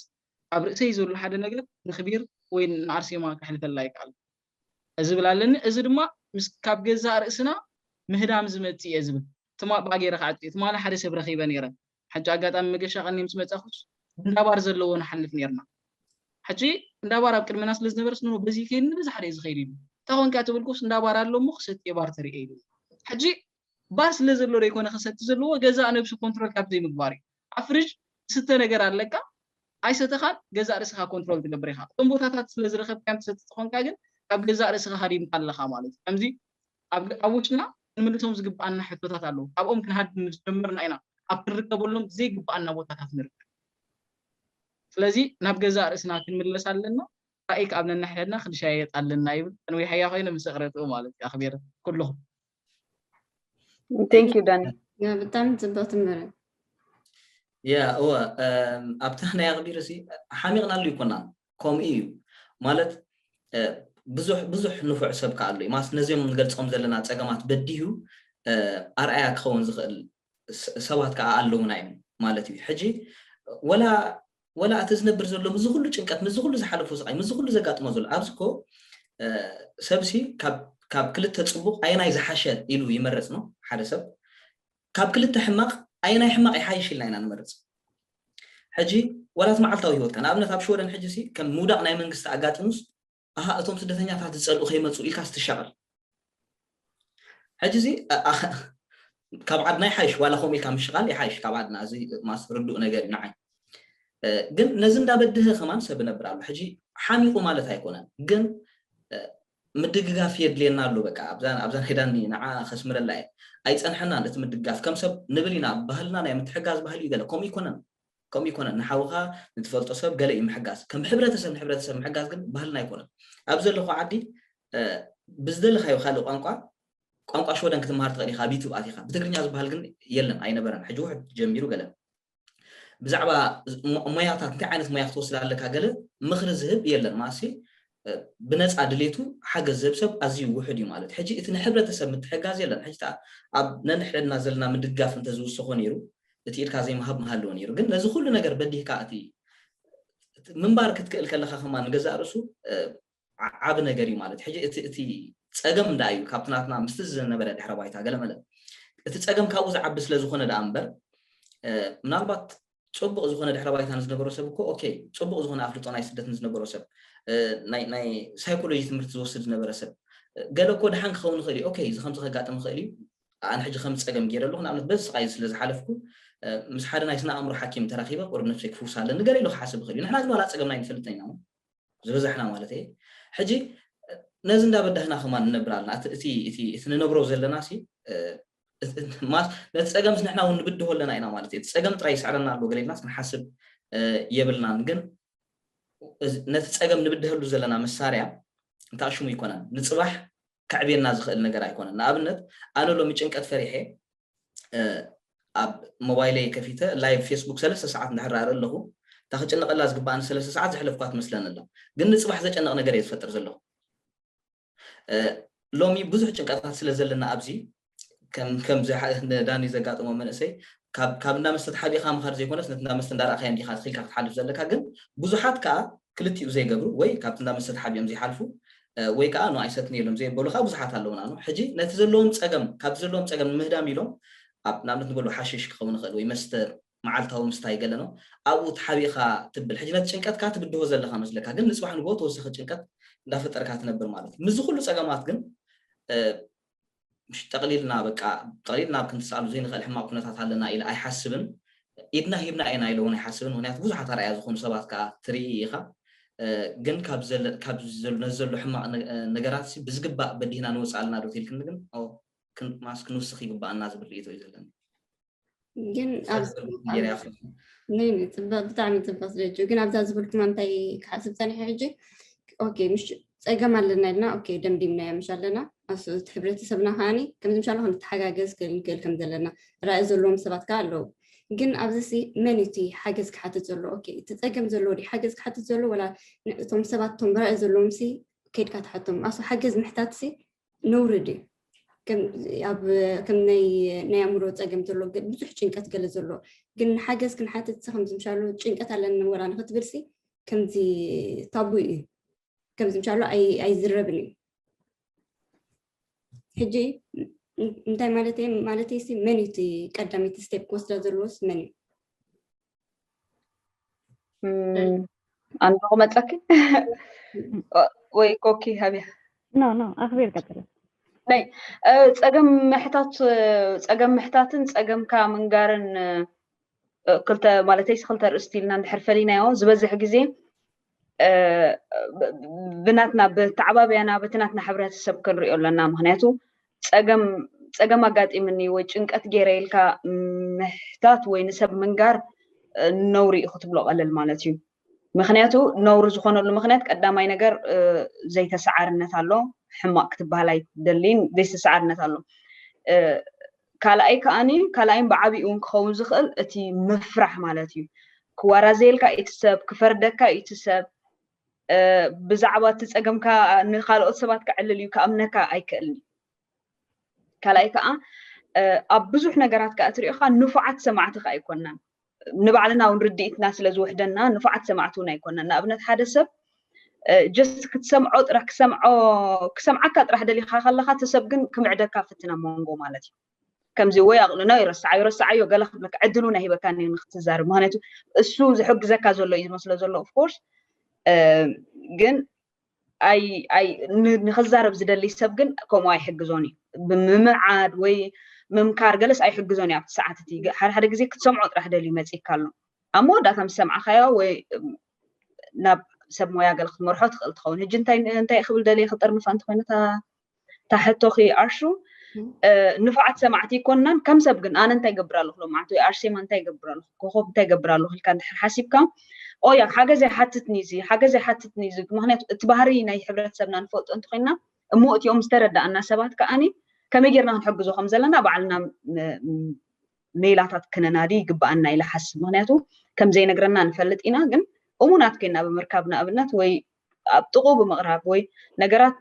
ኣብ ርእሰይ ዘሎ ሓደ ነገር ንክቢር ወይ ንኣርሴማ ከሕልፈላ ኣይክኣልኩን እየ ዝብል ኣለኒ። እዚ ድማ ምስ ካብ ገዛእ ርእስና ምህዳም ዝመጽእ እየ ዝብል። ትማ ብ ገይረ ክዓጹ እየ። ትማሊ ሓደ ሰብ ረኺበ ነይረ። ሓጂ ኣጋጣሚ መገሻ ቀንየ ምስ መጻእኩስ እንዳ ባር ዘለዎ ንሓልፍ ነይርና። ሓጂ እንዳ ባር ኣብ ቅድመና ስለ ዝነበረስ ኖኖ በዚ ከይድ ንበዝሓ ድየ ዝኸይድ ኢሉኒ። እንታይ ኮንካ ተበልኩስ እንዳ ባር ኣሎ እሞ ክሰቲ እየ ባር ተርእየ ኢሉኒ። ሓጂ ባር ስለ ዘሎ ደይኮነ ክሰቲ ዘለዎ ገዛእ ነብሱ ኮንትሮል ካብ ዘይምግባር እዩ። ኣብ ፍርጅ ዝስተ ነገር ኣለካ ኣይሰተኻን ገዛእ ርእስኻ ኮንትሮል ትገብር ኢኻ እቶም ቦታታት ስለ ዝረኸብካዮም ትሰቲ ተኾንካ ግን ካብ ገዛእ ርእስኻ ሃዲምካ ኣለኻ ማለት እዩ ከምዚ ኣብ ኣብ ውሽጥና ክንምልሶም ዝግብኣና ሕቶታት ኣለዉ ካብኦም ክንሃድም ምስ ጀመርና ኢና ኣብ ክንርከበሎም ዘይግብኣና ቦታታት ንርከብ ስለዚ ናብ ገዛእ ርእስና ክንምለስ ኣለና ራእይ ክኣብ ነናሕድሕድና ክንሻየጥ ኣለና ይብል ከንዊሓያ ኮይነ ምስ እቕረትኡ ማለት እዩ ኣኽቢረ ኩልኹም
ቴንክ ዩ ዳኒ ብጣዕሚ ፅብቕቲ
መረብ
ያ እወ ኣብቲ ናይ ኣቕዲር ሲ ሓሚቕናሉ ይኮናን ከምኡ እዩ ማለት ብዙሕ ብዙሕ ንፉዕ ሰብ ከዓ ኣሎ ማስ ነዚኦም ንገልፆም ዘለና ፀገማት በዲሁ ኣርኣያ ክኸውን ዝኽእል ሰባት ከኣ ኣለዉና እዮም ማለት እዩ ሕጂ ወላ ወላ እቲ ዝነብር ዘሎ ምስዚ ኩሉ ጭንቀት ምስዚ ኩሉ ዝሓለፎ ስቃይ ምስዚ ኩሉ ዘጋጥሞ ዘሎ ኣብዚ እኮ ሰብሲ ካብ ካብ ክልተ ጽቡቕ ኣየናይ ዝሓሸ ኢሉ ይመርጽ ነው ሓደ ሰብ ካብ ክልተ ሕማቕ ኣየናይ ሕማቕ ይሓይሽ ኢልና ኢና ንመርጽ ሕጂ ወላት መዓልታዊ ህይወትካ ንኣብነት ኣብ ሽወደን ሕጂ ሲ ከም ምውዳቕ ናይ መንግስቲ ኣጋጢሙስ ኣሃ እቶም ስደተኛታት ዝጸልኡ ከይመጹ ኢልካስ ትሻቐል ሕጂ እዚ ካብ ዓድና ይሓይሽ ዋላ ከምኡ ኢልካ ምሽቓል ይሓይሽ ካብ ዓድና እዚ ማስ ርዱእ ነገር እዩ ንዓይ ግን ነዚ እንዳበድህ ከማን ሰብ ነብር ኣሎ ሕጂ ሓሚቑ ማለት ኣይኮነን ግን ምድግጋፍ የድልየና ኣሎ በቃ ኣብዛ ሄዳኒ ንዓ ከስምረላ እየ ኣይፀንሐናን እቲ ምድጋፍ ከም ሰብ ንብል ኢና ባህልና ናይ ምትሕጋዝ ባህሊ እዩ ገለ ከምኡ ይኮነን ከምኡ ኣይኮነን ንሓውኻ ንትፈልጦ ሰብ ገለ እዩ ምሕጋዝ ከም ሕብረተሰብ ንሕብረተሰብ ምሕጋዝ ግን ባህልና ኣይኮነን ኣብዚ ዘለኽዎ ዓዲ ብዝደለኻዮ ካልእ ቋንቋ ቋንቋ ሽወደን ክትመሃር ትኽእል ኢኻ ኣብ ዩቱብ ኣቲኻ ብትግርኛ ዝበሃል ግን የለን ኣይነበረን ሕጂ ውሕድ ጀሚሩ ገለ ብዛዕባ ሞያታት እንታይ ዓይነት ሞያ ክትወስድ ኣለካ ገለ ምኽሪ ዝህብ የለን ማሲ ብነጻ ድሌቱ ሓገዝ ዝህብ ሰብ ኣዝዩ ውሑድ እዩ ማለት እዩ። ሕጂ እቲ ንሕብረተሰብ ምትሕጋዝ የለን። ሕጂ እታ ኣብ ነንሕድሕድና ዘለና ምድጋፍ እንተ ዝውሰኾ ነይሩ እቲ ኢድካ ዘይምሃብ ምሃለወ ነይሩ። ግን ነዚ ኩሉ ነገር በዲህካ እቲ እቲ ምንባር ክትክእል ከለኻ ከማን ንገዛእ ርእሱ ዓቢ ነገር እዩ ማለት እዩ። ሕጂ እቲ እቲ ጸገም እንዳ እዩ ካብቲ ናትና ምስቲ ዝነበረ ድሕረ ባይታ ገለመለ እቲ ጸገም ካብኡ ዝዓቢ ስለ ዝኾነ ደኣ እምበር ምናልባት ጽቡቕ ዝኾነ ድሕረ ባይታ ንዝነበሮ ሰብ እኮ ኦኬ ጽቡቕ ዝኾነ ኣፍልጦ ናይ ስደት ንዝነበሮ ሰብ ናይ ናይ ሳይኮሎጂ ትምህርቲ ዝወስድ ዝነበረ ሰብ ገለ እኮ ድሓን ክኸውን ይኽእል እዩ ኦኬ እዚ ከምዚ ከጋጥም ይኽእል እዩ ኣነ ሕጂ ከም ጸገም ገይረ ኣለኹ ንኣብነት በዚ ስቓይ ስለ ዝሓለፍኩ ምስ ሓደ ናይ ስነ ኣእምሮ ሓኪም ተራኺበ ቁሩብ ነፍሰይ ክፍውሳ ኣለኒ ገለ ኢሉ ክሓስብ ይኽእል እዩ ንሕና ግን ዋላ ጸገምና ኣይንፈልጥን ኢና ዝበዛሕና ማለት እየ ሕጂ ነዚ እንዳበዳህና ከማን ንነብር ኣለና እቲ እቲ ንነብሮ ዘለና ሲ ነቲ ጸገምስ ንሕና እውን ንብድሆ ኣለና ኢና ማለት እዩ። እቲ ጸገም ጥራይ ይስዕረና ኣሎ ገለ ኢልናስ ክንሓስብ የብልናን። ግን ነቲ ጸገም ንብድሀሉ ዘለና መሳርያ እንታይ ሽሙ ኣይኮነን፣ ንጽባሕ ከዕብየና ዝኽእል ነገር ኣይኮነን። ንኣብነት ኣነ ሎሚ ጭንቀት ፈሪሐ ኣብ ሞባይለይ ከፊተ ላይቭ ፌስቡክ ሰለስተ ሰዓት እንዳሕራረ ኣለኹ እታ ክጭነቐላ ዝግባኣኒ ሰለስተ ሰዓት ዘሕለፍኳ ትመስለኒ ኣላ ግን ንፅባሕ ዘጨንቕ ነገር እየ ዝፈጥር ዘለኹ ሎሚ ብዙሕ ጭንቀታት ስለ ዘለና ኣብዚ ከምዚ ዳኒ ዘጋጠሞ መንእሰይ ካብ እንዳ መስተ ተሓቢኻ ምኻድ ዘይኮነስ ነቲ እንዳ መስተ እንዳረእኻዮ እንዲኻ ትኺልካ ክትሓልፍ ዘለካ ግን ብዙሓት ከዓ ክልቲኡ ዘይገብሩ ወይ ካብቲ እንዳ መስተ ተሓቢኦም ዘይሓልፉ ወይ ከዓ ኖ ኣይሰትኒ ኢሎም ዘየበሉ ከዓ ብዙሓት ኣለውና ኖ ሕጂ ነቲ ዘለዎም ፀገም ካብቲ ዘለዎም ፀገም ንምህዳም ኢሎም ኣብ ንኣብነት ንበሉ ሓሽሽ ክኸውን ይኽእል ወይ መስተ መዓልታዊ ምስታይ ገለ ነው ኣብኡ ተሓቢእኻ ትብል ሕጂ ነቲ ጭንቀትካ ትብድሆ ዘለኻ መስለካ ግን ንጽባሕ ንግሆ ተወሳኺ ጭንቀት እንዳፈጠርካ ትነብር ማለት እዩ ምስዚ ኩሉ ጸገማት ግን ጠቕሊልና በቃ ጠቕሊልና ኣብ ክንትስኣሉ ዘይንኽእል ሕማቕ ኩነታት ኣለና ኢለ ኣይሓስብን ኢድና ሂብና ኢና ኢለ እውን ኣይሓስብን ምክንያቱ ብዙሓት ኣርኣያ ዝኾኑ ሰባት ከዓ ትርኢ ኢኻ ግን ካብ ነዚ ዘሎ ሕማቕ ነገራት ብዝግባእ በዲህና ንወፅእ ኣለና ዶ ትልክኒ ግን ማስ ክንውስኽ ይግባኣና ዝብል ርእቶ እዩ ዘለኒ
ግን ብጣዕሚ ፅብቅ ዝደጁ ግን ኣብዛ ዝብልኩም እንታይ ክሓስብ ፀኒሐ ሕጂ ኦኬ ምሽ ፀገም ኣለና ኢልና ኦኬ ደምዲምናዮ ምሽ ኣለና እቲ ሕብረተሰብና ከዓኒ ከምዚ ምሻ ክንተሓጋገዝ ክንክእል ከም ዘለና ራእይ ዘለዎም ሰባት ከዓ ኣለዉ ግን ኣብዚ ሲ መን እዩ እቲ ሓገዝ ክሓትት ዘሎ ኦኬ እቲ ፀገም ዘለዎ ዲ ሓገዝ ክሓትት ዘሎ ወላ እቶም ሰባት እቶም ራእይ ዘለዎም ሲ ከድካ ትሓቶም ኣሱ ሓገዝ ምሕታት ሲ ነውሪ ድዩ ከም ናይ ኣእምሮ ፀገም ዘሎ ብዙሕ ጭንቀት ገለ ዘሎ ግን ሓገዝ ክንሓትት ከምዚ ምሻሉ ጭንቀት ኣለኒ ወላ ንክትብልሲ ከምዚ ታቡ እዩ ከምዚ ምሻሉ ኣይዝረብን እዩ ሕጂ እንታይ ማለት ማለት ሲ መን እዩ ቀዳመይቲ ስቴፕ ክወስዳ ዘለዎስ መን እዩ
ኣንዶ መፀኪ ወይ ኮኪ ሃብያ ኖ ኖ ኣኽቢር
ቀጥለ ናይ
ፀገም ምሕታት ፀገም ምሕታትን ፀገምካ ምንጋርን ክልተ ማለተይስ ክልተ ርእስቲ ኢልና እንድሕር ፈሊናዮ ዝበዝሕ ግዜ ብናትና ብተዓባብያና በቲ ናትና ሕብረተሰብ ክንሪኦ ኣለና ምክንያቱ ፀገም ፀገም ኣጋጢምኒ ወይ ጭንቀት ገይረ ኢልካ ምሕታት ወይ ንሰብ ምንጋር ነውሪ እዩ ክትብሎ ቀልል ማለት እዩ ምክንያቱ ነውሪ ዝኾነሉ ምክንያት ቀዳማይ ነገር ዘይተሰዓርነት ኣሎ ሕማቅ ክትበሃል ኣይትደልይን ዘይተሰዓርነት ኣሎ ካልኣይ ከኣኒ ካልኣይን ብዓቢኡ እውን ክኸውን ዝኽእል እቲ ምፍራሕ ማለት እዩ። ክዋራዘየልካ እዩ እቲ ሰብ፣ ክፈርደካ እዩ እቲ ሰብ፣ ብዛዕባ እቲ ጸገምካ ንኻልኦት ሰባት ከዕልል እዩ ክኣምነካ ኣይክእልን እዩ። ካልኣይ ከዓ ኣብ ብዙሕ ነገራት ከዓ እትሪኦ ኸዓ ንፉዓት ሰማዕቲ ከዓ ኣይኮናን። ንባዕልና እውን ርድኢትና ስለ ዝውሕደና ንፉዓት ሰማዕቲ እውን ኣይኮናን ንኣብነት ሓደ ሰብ ጀስት ክትሰምዖ ጥራሕ ክሰምዖ ክሰምዓካ ጥራሕ ደሊኻ ከለኻ እቲ ሰብ ግን ክምዕደካ ፍትን ኣብ መንጎ ማለት እዩ ከምዚ ወይ ኣቕልኖ ይረስዓዮ ረስዓዮ ገለ ክብለካ ዕድል እውን ኣይህበካን እዩ ንክትዛረብ ምክንያቱ እሱ ዝሕግዘካ ዘሎ እዩ ዝመስሎ ዘሎ ኦፍኮርስ ግን ንክዛረብ ዝደሊ ሰብ ግን ከምኡ ኣይሕግዞን እዩ። ብምምዓድ ወይ ምምካር ገለስ ኣይሕግዞን እዩ ኣብቲ ሰዓት እቲ። ሓደ ሓደ ግዜ ክትሰምዖ ጥራሕ ደልዩ መጺእካ ኣሎ። ኣብ መወዳእታ ምስ ሰማዕካዮ ወይ ናብ ሰብ ሞያ ገለ ክትመርሖ ትኽእል ትኸውን። ሕጂ እንታይ እንታይ ክብል ደልየ ክጥርንፋ እንተኾይኑ እታ እታ ሕቶኺ ኣሹ ንፉዓት ሰማዕቲ ይኮናን ከም ሰብ ግን ኣነ እንታይ ገብር ኣለኹ ሎምዓንቲ ወይ ኣርሴማ እንታይ ገብር ኣለኹ ኮኸብ እንታይ ገብር ኣለኹ ኢልካ እንድሕር ሓሲብካ ኦያ ሓገዝ ኣይሓትትኒ እዚ ሓገዝ ኣይሓትትኒ እዚ ምክንያቱ እቲ ባህሪ ናይ ሕብረተሰብና ንፈልጦ እንተኮይና እሞ እቲኦም ዝተረዳእና ሰባት ከዓኒ ከመይ ጌርና ክንሕግዞ ከም ዘለና ባዕልና ሜላታት ክነናዲ ይግባኣና ኢለ ሓስብ ምክንያቱ ከምዘይነግረና ንፈልጥ ኢና ግን እሙናት ኮይና ብምርካብ ንኣብነት ወይ ኣብ ጥቕኡ ብምቕራብ ወይ ነገራት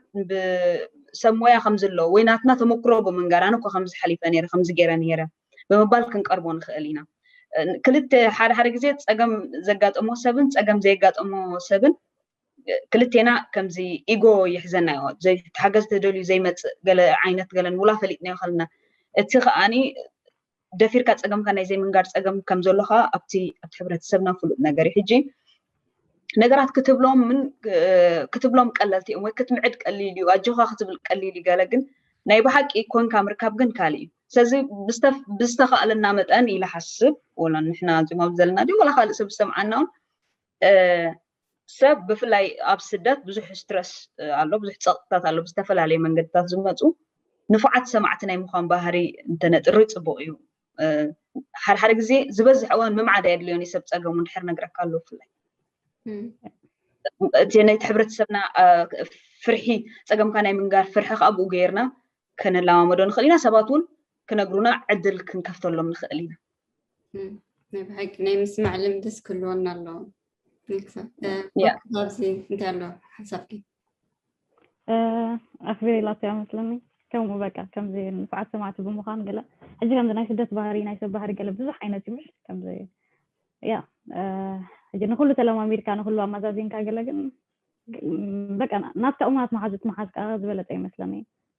ሰብ ሞያ ከም ዘለዎ ወይ ናትና ተመክሮ ብምንጋር ኣነ እኮ ከምዚ ሓሊፈ ነይረ ከምዚ ገይረ ነይረ ብምባል ክንቀርቦ ንኽእል ኢና ክልተ ሓደ ሓደ ግዜ ፀገም ዘጋጠሞ ሰብን ፀገም ዘየጋጠሞ ሰብን ክልቴና ከምዚ ኢጎ ይሕዘና ዮ ዘይተሓገዝ ተደልዩ ዘይመፅእ ገለ ዓይነት ገለን ውላ ፈሊጥናዮ ከለና እቲ ከዓኒ ደፊርካ ፀገምካ ናይ ዘይምንጋር ፀገም ከም ዘሎ ከዓ ኣብቲ ኣብቲ ሕብረተሰብና ፍሉጥ ነገር እዩ ሕጂ ነገራት ክትብሎምን ክትብሎም ቀለልቲ እዮም ወይ ክትምዕድ ቀሊል እዩ ኣጆኻ ክትብል ቀሊል እዩ ገለ ግን ናይ ብሓቂ ኮንካ ምርካብ ግን ካልእ እዩ ስለዚ ብዝተኻእለና መጠን ኢለ ሓስብ ወላ ንሕና እዚኦም ኣብ ዘለና ድዩ ወላ ካልእ ሰብ ዝሰምዓና እውን ሰብ ብፍላይ ኣብ ስደት ብዙሕ ስትረስ ኣሎ፣ ብዙሕ ፀቕጥታት ኣሎ፣ ብዝተፈላለየ መንገድታት ዝመፁ ንፉዓት ሰማዕቲ ናይ ምዃን ባህሪ እንተነጥሪ ፅቡቕ እዩ። ሓደ ሓደ ግዜ ዝበዝሕ እዋን ምምዓድ ኣየድልዮን እዩ ሰብ ፀገሙ እንድሕር ነግረካ ኣሎ ብፍላይ እቲ ናይቲ ሕብረተሰብና ፍርሒ ፀገምካ ናይ ምንጋር ፍርሒ ከዓ ብኡ ገይርና ከነለማመዶ ንኽእል ኢና ሰባት እውን ክነግሩና ዕድል ክንከፍተሎም ንኽእል ኢና ናይ
ብሓቂ ናይ ምስማዕ ልምድስ ክህልወና ኣለዎ ኣብዚ እንታይ ኣሎ ሓሳብኪ
ኣክቢሪላቶ እያ መስለኒ ከምኡ በቃ ከምዚ ንፉዓት ሰማዕቲ ብምዃን ገለ ሕጂ ከምዚ ናይ ስደት ባህሪ ናይ ሰብ ባህሪ ገለ ብዙሕ ዓይነት እዩ ከምዚ ያ ሕጂ ንኩሉ ተለማሚድካ ንኩሉ ኣመዛዚንካ ገለ ግን በቃ ናትካ እሙናት መሓዙት ምሓዝ ከዓ ዝበለፀ ይመስለኒ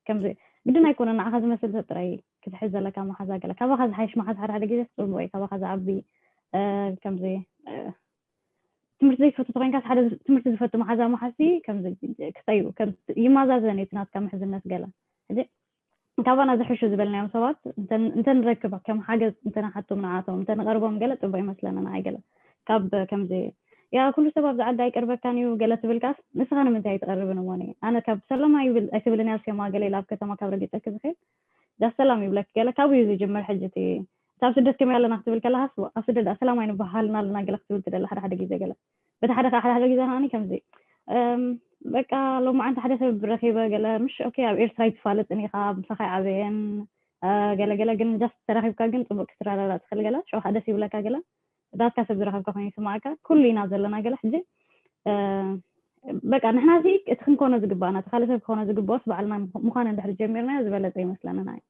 ከምዚ ግድን ኣይኮነ ንዓኻ ዝመስል ሰብ ጥራይ ክትሕዝ ዘለካ መሓዛ ገለ ካባኻ ዝሓይሽ መሓዝ ሓደ ሓደ ግዜ ፅቡቅ እዩ ካባኻ ዝዓቢ ከምዚ ትምህርቲ ዘይትፈቱ ተኮይንካስ ሓደ ትምህርቲ ዝፈቱ መሓዛ መሓዝቲ ከምዚ ክፀዩ ይመዛዘን እዩ ናትካ ምሕዝነት ገለ ሕጂ ካባና ዝሕሹ ዝበልናዮም ሰባት እንተንረክብ ከም ሓገዝ እንተንሓቶም ንዓቶም እንተንቐርቦም ገለ ፅቡቕ ይመስለና ንዓይ ገለ ካብ ከምዚ ያ ኩሉ ሰብ ኣብዚ ዓዲ ኣይቀርበካን እዩ ገለ ትብልካስ ንስኻ ንምንታይ ኣይትቐርብን እሞኒ ኣነ ካብ ሰላም ኣይትብልን እያ ሴማ ገለ ኢላ ኣብ ከተማ ካብ ረጊፀኪ ዝኽእል ዳስ ሰላም ይብለኪ ገለ ካብኡ እዩ ዝጅምር ሕጂ እቲ እታ ኣብ ስደት ከመይ ኣለና ክትብል ከለሃስ ኣብ ስደት ደኣ ሰላም ኣይንበሃልና ኣለና ገለ ክትብል ትደሊ ሓደ ሓደ ግዜ ገለ በቲ ሓደ ከዓ ሓደ ሓደ ግዜ ከዓኒ ከምዚ በቃ ሎማዓንቲ ሓደ ሰብ ረኺበ ገለ ምሽ ኦኬ ኣብ ኤርትራ ይትፋለጥን ኢኻ ምሳኻ ይዓበየን ገለ ገለ ግን ጃስት ተራኺብካ ግን ፅቡቅ ክትረዳዳ ትኽእል ገለ ሽዑ ከዓ ደስ ይብለካ ገለ ዳትካ ሰብ ዝረኸብካ ኮይኑ ይስማዓካ ኩሉ ኢና ዘለና ገለ ሕጂ በቃ ንሕና እዚ እቲ ክንኮኖ ዝግባእና እቲ ካልእ ሰብ ክኾኖ ዝግብኦስ ባዕልና ምዃን እንድሕሪ ጀሚርናዮ ዝበለፀ ይመስለንና እዩ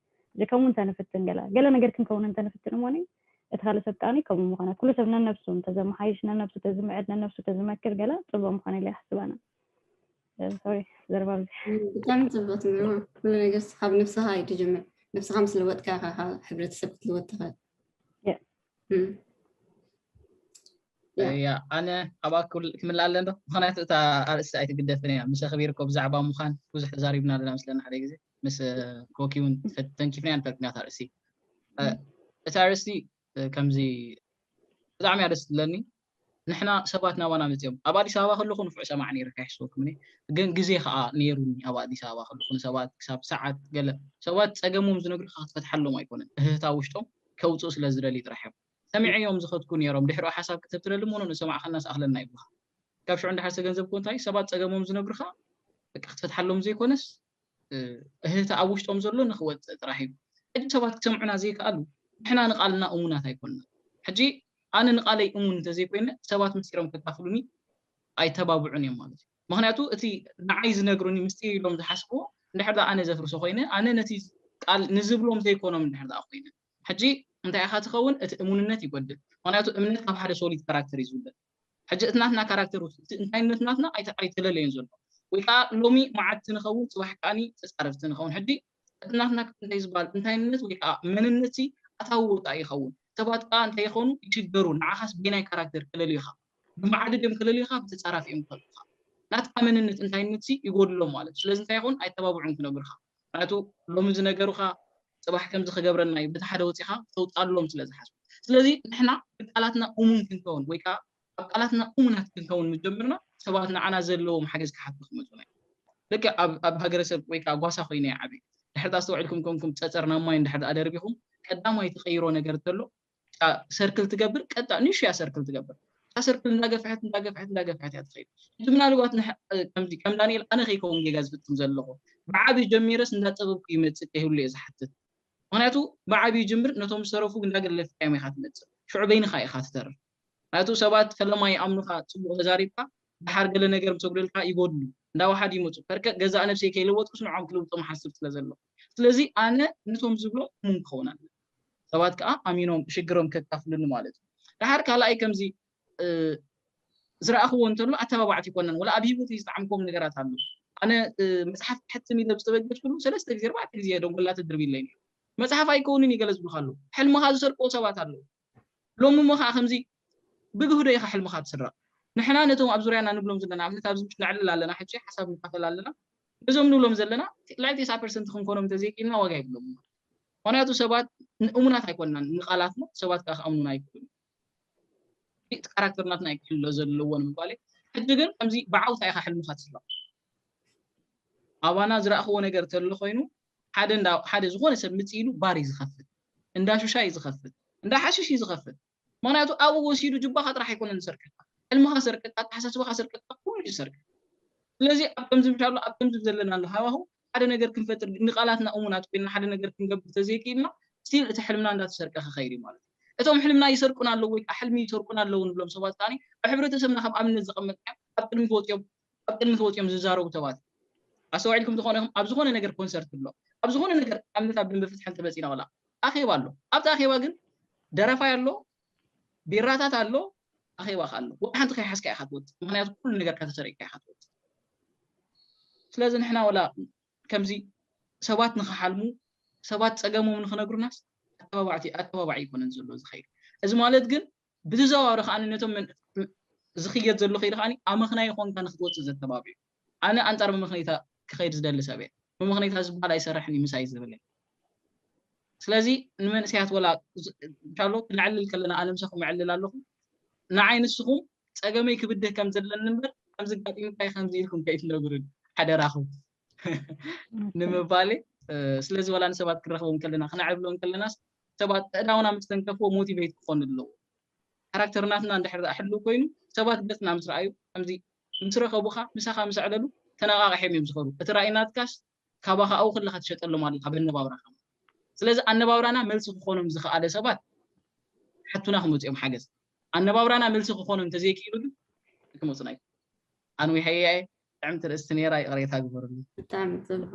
ከምኡ እንተ ንፍትን ገለ ገለ ነገር ክንከውን እንተ ንፍትን እሞኒ እቲ ካልእ ሰብ ከኣ ከምኡ ምኾነ ኩሉ ሰብ ነነብሱ እንተ ዘመሓይሽ ነነብሱ ተዝምዕድ ነነብሱ ተዝመክር ገለ ጽቡቕ ምኾነ ኢለ ይሓስብ ኣነ ሶሪ ዘረባ ኣብዚ ብጣዕሚ ጽቡቕ
ትምህሮ ኩሉ ነገር ካብ ነብስኻ እዩ ትጅምር ነብስኻ ምስ ለወጥካ ኢኻ ካብ ሕብረተሰብ ክትልወጥ ትኽእል
እያ ኣነ ኣብ ኣኩል ክምልእ ኣለ ዶ ምክንያቱ እታ ኣርእስቲ ኣይትግደፍን እያ ምስ ኣክቢርኮ ብዛዕባ ምዃን ብዙሕ ተዛሪብና ኣለና ምስለና ሓደ ግዜ ምስ ኮኪ እውን ተንኪፍናያ ንፈልጥ ኢና ኣርእስቲ እታ ኣርእስቲ ከምዚ ብጣዕሚ እያ ደስ ትብለኒ ንሕና ሰባት ናባና መፅኦም ኣብ ኣዲስ ኣበባ ከለኹ ንፍዑ ሰማዕ ነይረ ካይሕስበኩምኒ ግን ግዜ ከዓ ነይሩኒ ኣብ ኣዲስ ኣበባ ከለኹ ንሰባት ክሳብ ሰዓት ገለ ሰባት ፀገሞም ዝነግሩካ ክትፈትሓሎም ኣይኮነን እህታ ውሽጦም ከውፅኡ ስለ ዝደልዩ ጥራሕ እዮም ሰሚዐዮም ዝኸድኩ ኔሮም ድሕሪኡ ሓሳብ ክተብትለልም ውን ንዝሰማዕኻናስ ኣኽለና ይብሉኻ ካብ ሽዑ ንደሓር ዝተገንዘብክዎ እንታይ እዩ ሰባት ጸገሞም ዝነግሩኻ በቃ ክትፈትሓሎም ዘይኮነስ እህህታ ኣብ ውሽጦም ዘሎ ንኽወጽእ ጥራሕ እዩ ሕጂ ሰባት ክሰምዑና ዘይከኣሉ ንሕና ንቓልና እሙናት ኣይኮንና ሕጂ ኣነ ንቓለይ እሙን እንተዘይኮይነ ሰባት ምስጢሮም ከካፍሉኒ ኣይተባብዑን እዮም ማለት እዩ ምክንያቱ እቲ ንዓይ ዝነግሩኒ ምስጢር ኢሎም ዝሓስብዎ እንድሕር ኣነ ዘፍርሶ ኮይነ ኣነ ነቲ ቃል ንዝብሎም ዘይኮኖም እንድሕር ኮይነ ሕጂ እንታይ ኢኻ ትኸውን እቲ እሙንነት ይጎድል ምኽንያቱ እምነት ካብ ሓደ ሶሊድ ካራክተር እዩ ዝውለድ ሕጂ እቲ ናትና ካራክተር ውስጥ እቲ እንታይነት ናትና ኣይተለለዮን ዘሎ ወይ ከኣ ሎሚ መዓድቲ ንኸውን ጽባሕ ከኣ ተጻረርቲ ንኸውን ሕጂ እቲ ናትና እንታይ ዝባሃል እንታይነት ወይ ከኣ መንነት ሲ ኣታዊ ወጻኢ ይኸውን ሰባት ከኣ እንታይ ይኾኑ ይሽገሩ ንዓኻስ በየናይ ካራክተር ከለልዩኻ ብመዓዲ ድዮም ከለልዩኻ ብተጻራፊ እዮም ዝኸልኡኻ ናትካ መንነት እንታይነት ሲ ይጎድሎም ማለት እዩ ስለዚ እንታይ ይኸውን ኣይተባብዑን ክነግሩኻ ምኽንያቱ ሎሚ ዝነገሩኻ ጽባሕ ከምዚ ክገብረልና እዩ በቲ ሓደ ወጺኻ ክተውጽኣሎም ስለ ዝሓስቡ። ስለዚ ንሕና ብቃላትና እሙን ክንከውን ወይ ከኣ ኣብ ቃላትና እሙናት ክንከውን ምስ ጀመርና ሰባት ንዓና ዘለዎም ሓገዝ ክሓቱ ክመጹና እዩ። ልክዕ ኣብ ኣብ ሃገረሰብ ወይ ከኣ ጓሳ ኮይነ እየ ዓብየ። ድሕሪ እቲ ኣስተውዒልኩም ኮንኩም ጸጸር ናብ ማይ እንድሕር ደኣ ደርቢኹም ቀዳማይ ትቐይሮ ነገር እንተሎ ሰርክል ትገብር ቀጣ ንእሹ እያ ሰርክል ትገብር እታ ሰርክል እንዳገፍሐት እንዳገፍሐት እንዳገፍሐት እያ ትኸይድ እቲ ምናልባት ከምዚ ከም ዳንኤል ኣነ ከይከውን ጌጋ ዝፍፅም ዘለኹ ብዓብዩ ጀሚረስ እንዳጠበብኩ ይመፅእ ከይህሉ እየ ዝሓትት ምክንያቱ ብዓብዩ ጅምር ነቶም ዝተረፉ እንዳገለፍካዮም ኢኻ ትመፅእ ሽዑ በይንኻ ኢኻ ትተርፍ ምክንያቱ ሰባት ፈለማ ይኣምኑኻ ፅቡቅ ተዛሪብካ ድሓር ገለ ነገር ምሰጉደልካ ይጎድሉ እንዳዋሓድ ይመፁ ከርከ ገዛእ ነብሰይ ከይለወጥኩስ ንዖም ክልውጦም ሓስብ ስለ ዘለኹ ስለዚ ኣነ ነቶም ዝብሎ እሙን ክኸውን ኣለኒ ሰባት ከኣ ኣሚኖም ሽግሮም ከካፍሉኒ ማለት እዩ ደሓር ካልኣይ ከምዚ ዝረኣኽዎ እንተሎ ኣተባባዕቲ ይኮነን ወላ ኣብ ሂወተይ ዝጠዓምክዎም ነገራት ኣሎ ኣነ መጽሓፍ ክሕትም ኢለ ዝተበገስኩሉ ሰለስተ ግዜ ኣርባዕተ ግዜ ደንጎላ ተድርቢለይ ነይሩ መጽሓፍ ኣይከውንን እዩ ገለ ዝብልካ ኣሎ ሕልምኻ ዝሰርቅዎ ሰባት ኣለዉ ሎሚ እሞ ከዓ ከምዚ ብግህዶ ኢኻ ሕልምኻ ትስረቕ ንሕና ነቶም ኣብ ዙርያና ንብሎም ዘለና ኣብነት ኣብዚ ምሽ ነዕልል ኣለና ሕጂ ሓሳብ ንካፈል ኣለና ነዞም ንብሎም ዘለና ልዕሊ ቴስዓ ፐርሰንት ክንኮኖም እንተዘይክኢልና ዋጋ የብሎም ምኽንያቱ ሰባት እሙናት ኣይኮናን፣ ንቓላትና ሰባት ከኣ ክኣምኑና ኣይክእሉን። እዚ እቲ ካራክተር ናትና እዩ ክሕሎ ዘለዎ ንምባለይ፣ ሕጂ ግን ከምዚ ብዓውታ ኢኻ ሕልምኻ ትስረቕ። ኣባና ዝረኣኽዎ ነገር ተሎ ኮይኑ ሓደ እንዳ ሓደ ዝኾነ ሰብ ምጺ ኢሉ ባር እዩ ዝኸፍት፣ እንዳ ሹሻ እዩ ዝኸፍት፣ እንዳ ሓሽሽ እዩ ዝኸፍት። ምኽንያቱ ኣብኡ ወሲዱ ጁባኻ ጥራሕ ኣይኮነን ዝሰርቀካ፣ ሕልምኻ ዝሰርቀካ፣ ኣተሓሳስባኻ ዝሰርቀካ ኩሉ እዩ ዝሰርቀካ። ስለዚ ኣብ ከምዚ ምሻሎ ኣብ ከምዚ ዘለናሉ ሃዋህው ሓደ ነገር ክንፈጥር ንቃላትና እሙናት ኮይና ሓደ ነገር ክንገብር ተዘይኪኢልና still እቲ ሕልምና እንዳተሰርቀ ክኸይድ እዩ ማለት እዩ። እቶም ሕልምና ይሰርቁና ኣለዉ ወይ ከኣ ሕልሚ ይሰርቁና ኣለዉ ንብሎም ሰባት ከኣ ኣብ ሕብረተሰብና ከም ኣብነት ዘቐመጥናዮም ኣብ ቅድሚት ወጺኦም ኣብ ቅድሚት ወጽዮም ዝዛረቡ ሰባት ኣስተዋዒልኩም ተኾኑ ኢኹም ኣብ ዝኾነ ነገር ኮንሰርት ኣሎ ኣብ ዝኾነ ነገር ኣብ ምንታ ብንቢ ፍትሒ እንተመጺና ወላ ኣኼባ ኣሎ ኣብቲ ኣኼባ ግን ደራፋይ ኣሎ ቢራታት ኣሎ ኣኼባ ከ ኣሎ ወላ ሓንቲ ከይሓዝካ ኢኻ ትወጽእ ምክንያቱ ኩሉ ነገር ከተሰሪቅካ ኢኻ ትወጽእ ስለዚ ንሕና ወላ ከምዚ ሰባት ንክሓልሙ ሰባት ጸገሞም ንክነግሩናስ ኣተባባዕቲ ኣተባባዒ ይኮነን ዘሎ ዝኸይድ እዚ ማለት ግን ብተዘዋዋሪ ከኣ ነቶም ዝኽየድ ዘሎ ከይዲ ከኣ ኣመኽናዪ ኮንካ ንኽትወጽእ ዘተባብዑ። ኣነ ኣንጻር መመኽነይታ ክኸይድ ዝደሊ ሰብ እየ። መመኽነይታ ዝበሃል ኣይሰርሕን እዩ ምሳይ ዝብል እየ። ስለዚ ንመንእሰያት ወላ እንሻሎ ክነዕልል ከለና ኣነ ምሳኹም እዕልል ኣለኹ። ንዓይ ንስኹም ጸገመይ ክብድህ ከም ዘለኒ እምበር ከምዚ ኣጋጢሙካ'ዩ ከምዚ ኢልኩም ከይትነግሩኒ ሓደራኹም ንምባል እየ። ስለዚ ወላ ንሰባት ክንረኽቦም ከለና ክነዕልሎም ከለናስ ሰባት ኣእዳውና ምስ ተንከፍዎ ሞቲቨይት ክኾኑ ኣለዎ። ካራክተርናትና እንድሕር ደኣ ሕልው ኮይኑ ሰባት ገጽና ምስ ረኣዩ ከምዚ ምስ ረኸቡኻ ምሳኻ ምስ ኣዕለሉ ተነቓቒሖም እዮም ዝኸዱ። እቲ ራኢ ናትካስ ካባኻ ኣብኡ ከለኻ ትሸጠሎም ኣለኻ በነባብራኻ ማለት እዩ። ስለዚ ኣነባብራና መልሲ ክኾኖም ዝኸኣለ ሰባት ክሓቱና ክመጹ እዮም ሓገዝ። ኣነባብራና መልሲ ክኾኖም እንተዘይክኢሉ ግን ኣይክመጹና እዮም። ኣንዊሐያ እየ። ጥዕምቲ ርእስቲ ነይራ ይቕሬታ ግበሩለይ። ብጣዕሚ ጽቡቅ።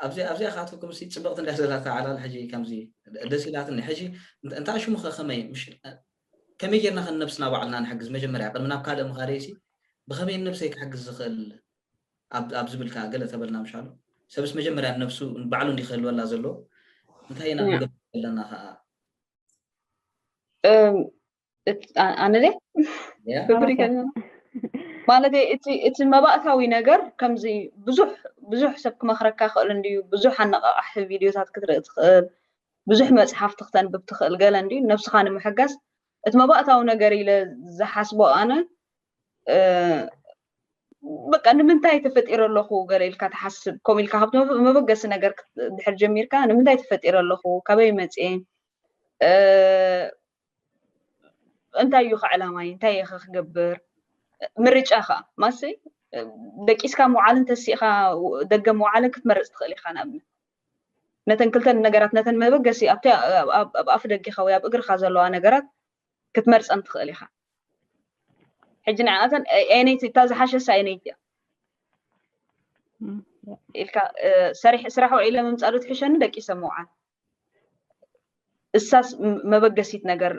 ኣብዚኣ ኣብዚኣ
ካትኩም ሲ ጽብቕቲ እንድያ ዘላታ ዓላል ሕጂ ከምዚ ደስ ኢላትኒ ሕጂ እንታ ሽሙ ከ ከመይ ምሽ ከመይ ጌርና ከ ነብስና ባዕልና ንሕግዝ መጀመርያ ቅድሚ ናብ ካልእ ምኻደይ ሲ ብኸመይ ንነብሰይ ክሕግዝ ዝኽእል ኣብ ኣብ ዝብልካ ገለ ተበልና ምሻሉ ሰብስ መጀመርያ ነብሱ ባዕሉ እንዲ ክህልወላ ዘለዎ እንታይ ኢና ክንገብር ዘለና ከኣ
ኣነለ ማለት እቲ መባእታዊ ነገር ከምዚ ብዙሕ ብዙሕ ሰብ ክመክረካ ክእል እንድዩ ብዙሕ ኣነቃቃሒ ቪድዮታት ክትርኢ ትኽእል ብዙሕ መፅሓፍቲ ክተንብብ ትኽእል ገለ እንድዩ ነብስኻ ንምሕጋዝ እቲ መባእታዊ ነገር ኢለ ዝሓስቦ ኣነ በቃ ንምንታይ ተፈጢረ ኣለኹ ገለ ኢልካ ትሓስብ ከምኡ ኢልካ ካብቲ መበገሲ ነገር ድሕር ጀሚርካ ንምንታይ ተፈጢረ ኣለኹ ካበይ መፅኤ እንታይ እዩ ኸ ዕላማይ እንታይ እየ ኸ ክገብር ምርጫ ከዓ ማሲ ደቂስካ ምውዓልን ተሲእኻ ደገ ምውዓልን ክትመርፅ ትኽእል ኢኻ ንኣብነት ነተን ክልተን ነገራት ነተን መበገሲ ኣብቲ ኣብ ኣፍ ደጊኻ ወይ ኣብ እግርኻ ዘለዋ ነገራት ክትመርፀን ትኽእል ኢኻ ሕጂ ንዓኣተን ኣየነይቲ እታ ዝሓሸሳ ኣየነይቲ እያ ኢልካ ስራሕ ውዒለ ምምፃእ ዶ ትሕሸኒ ደቂሰ ምውዓል እሳስ መበገሲት ነገር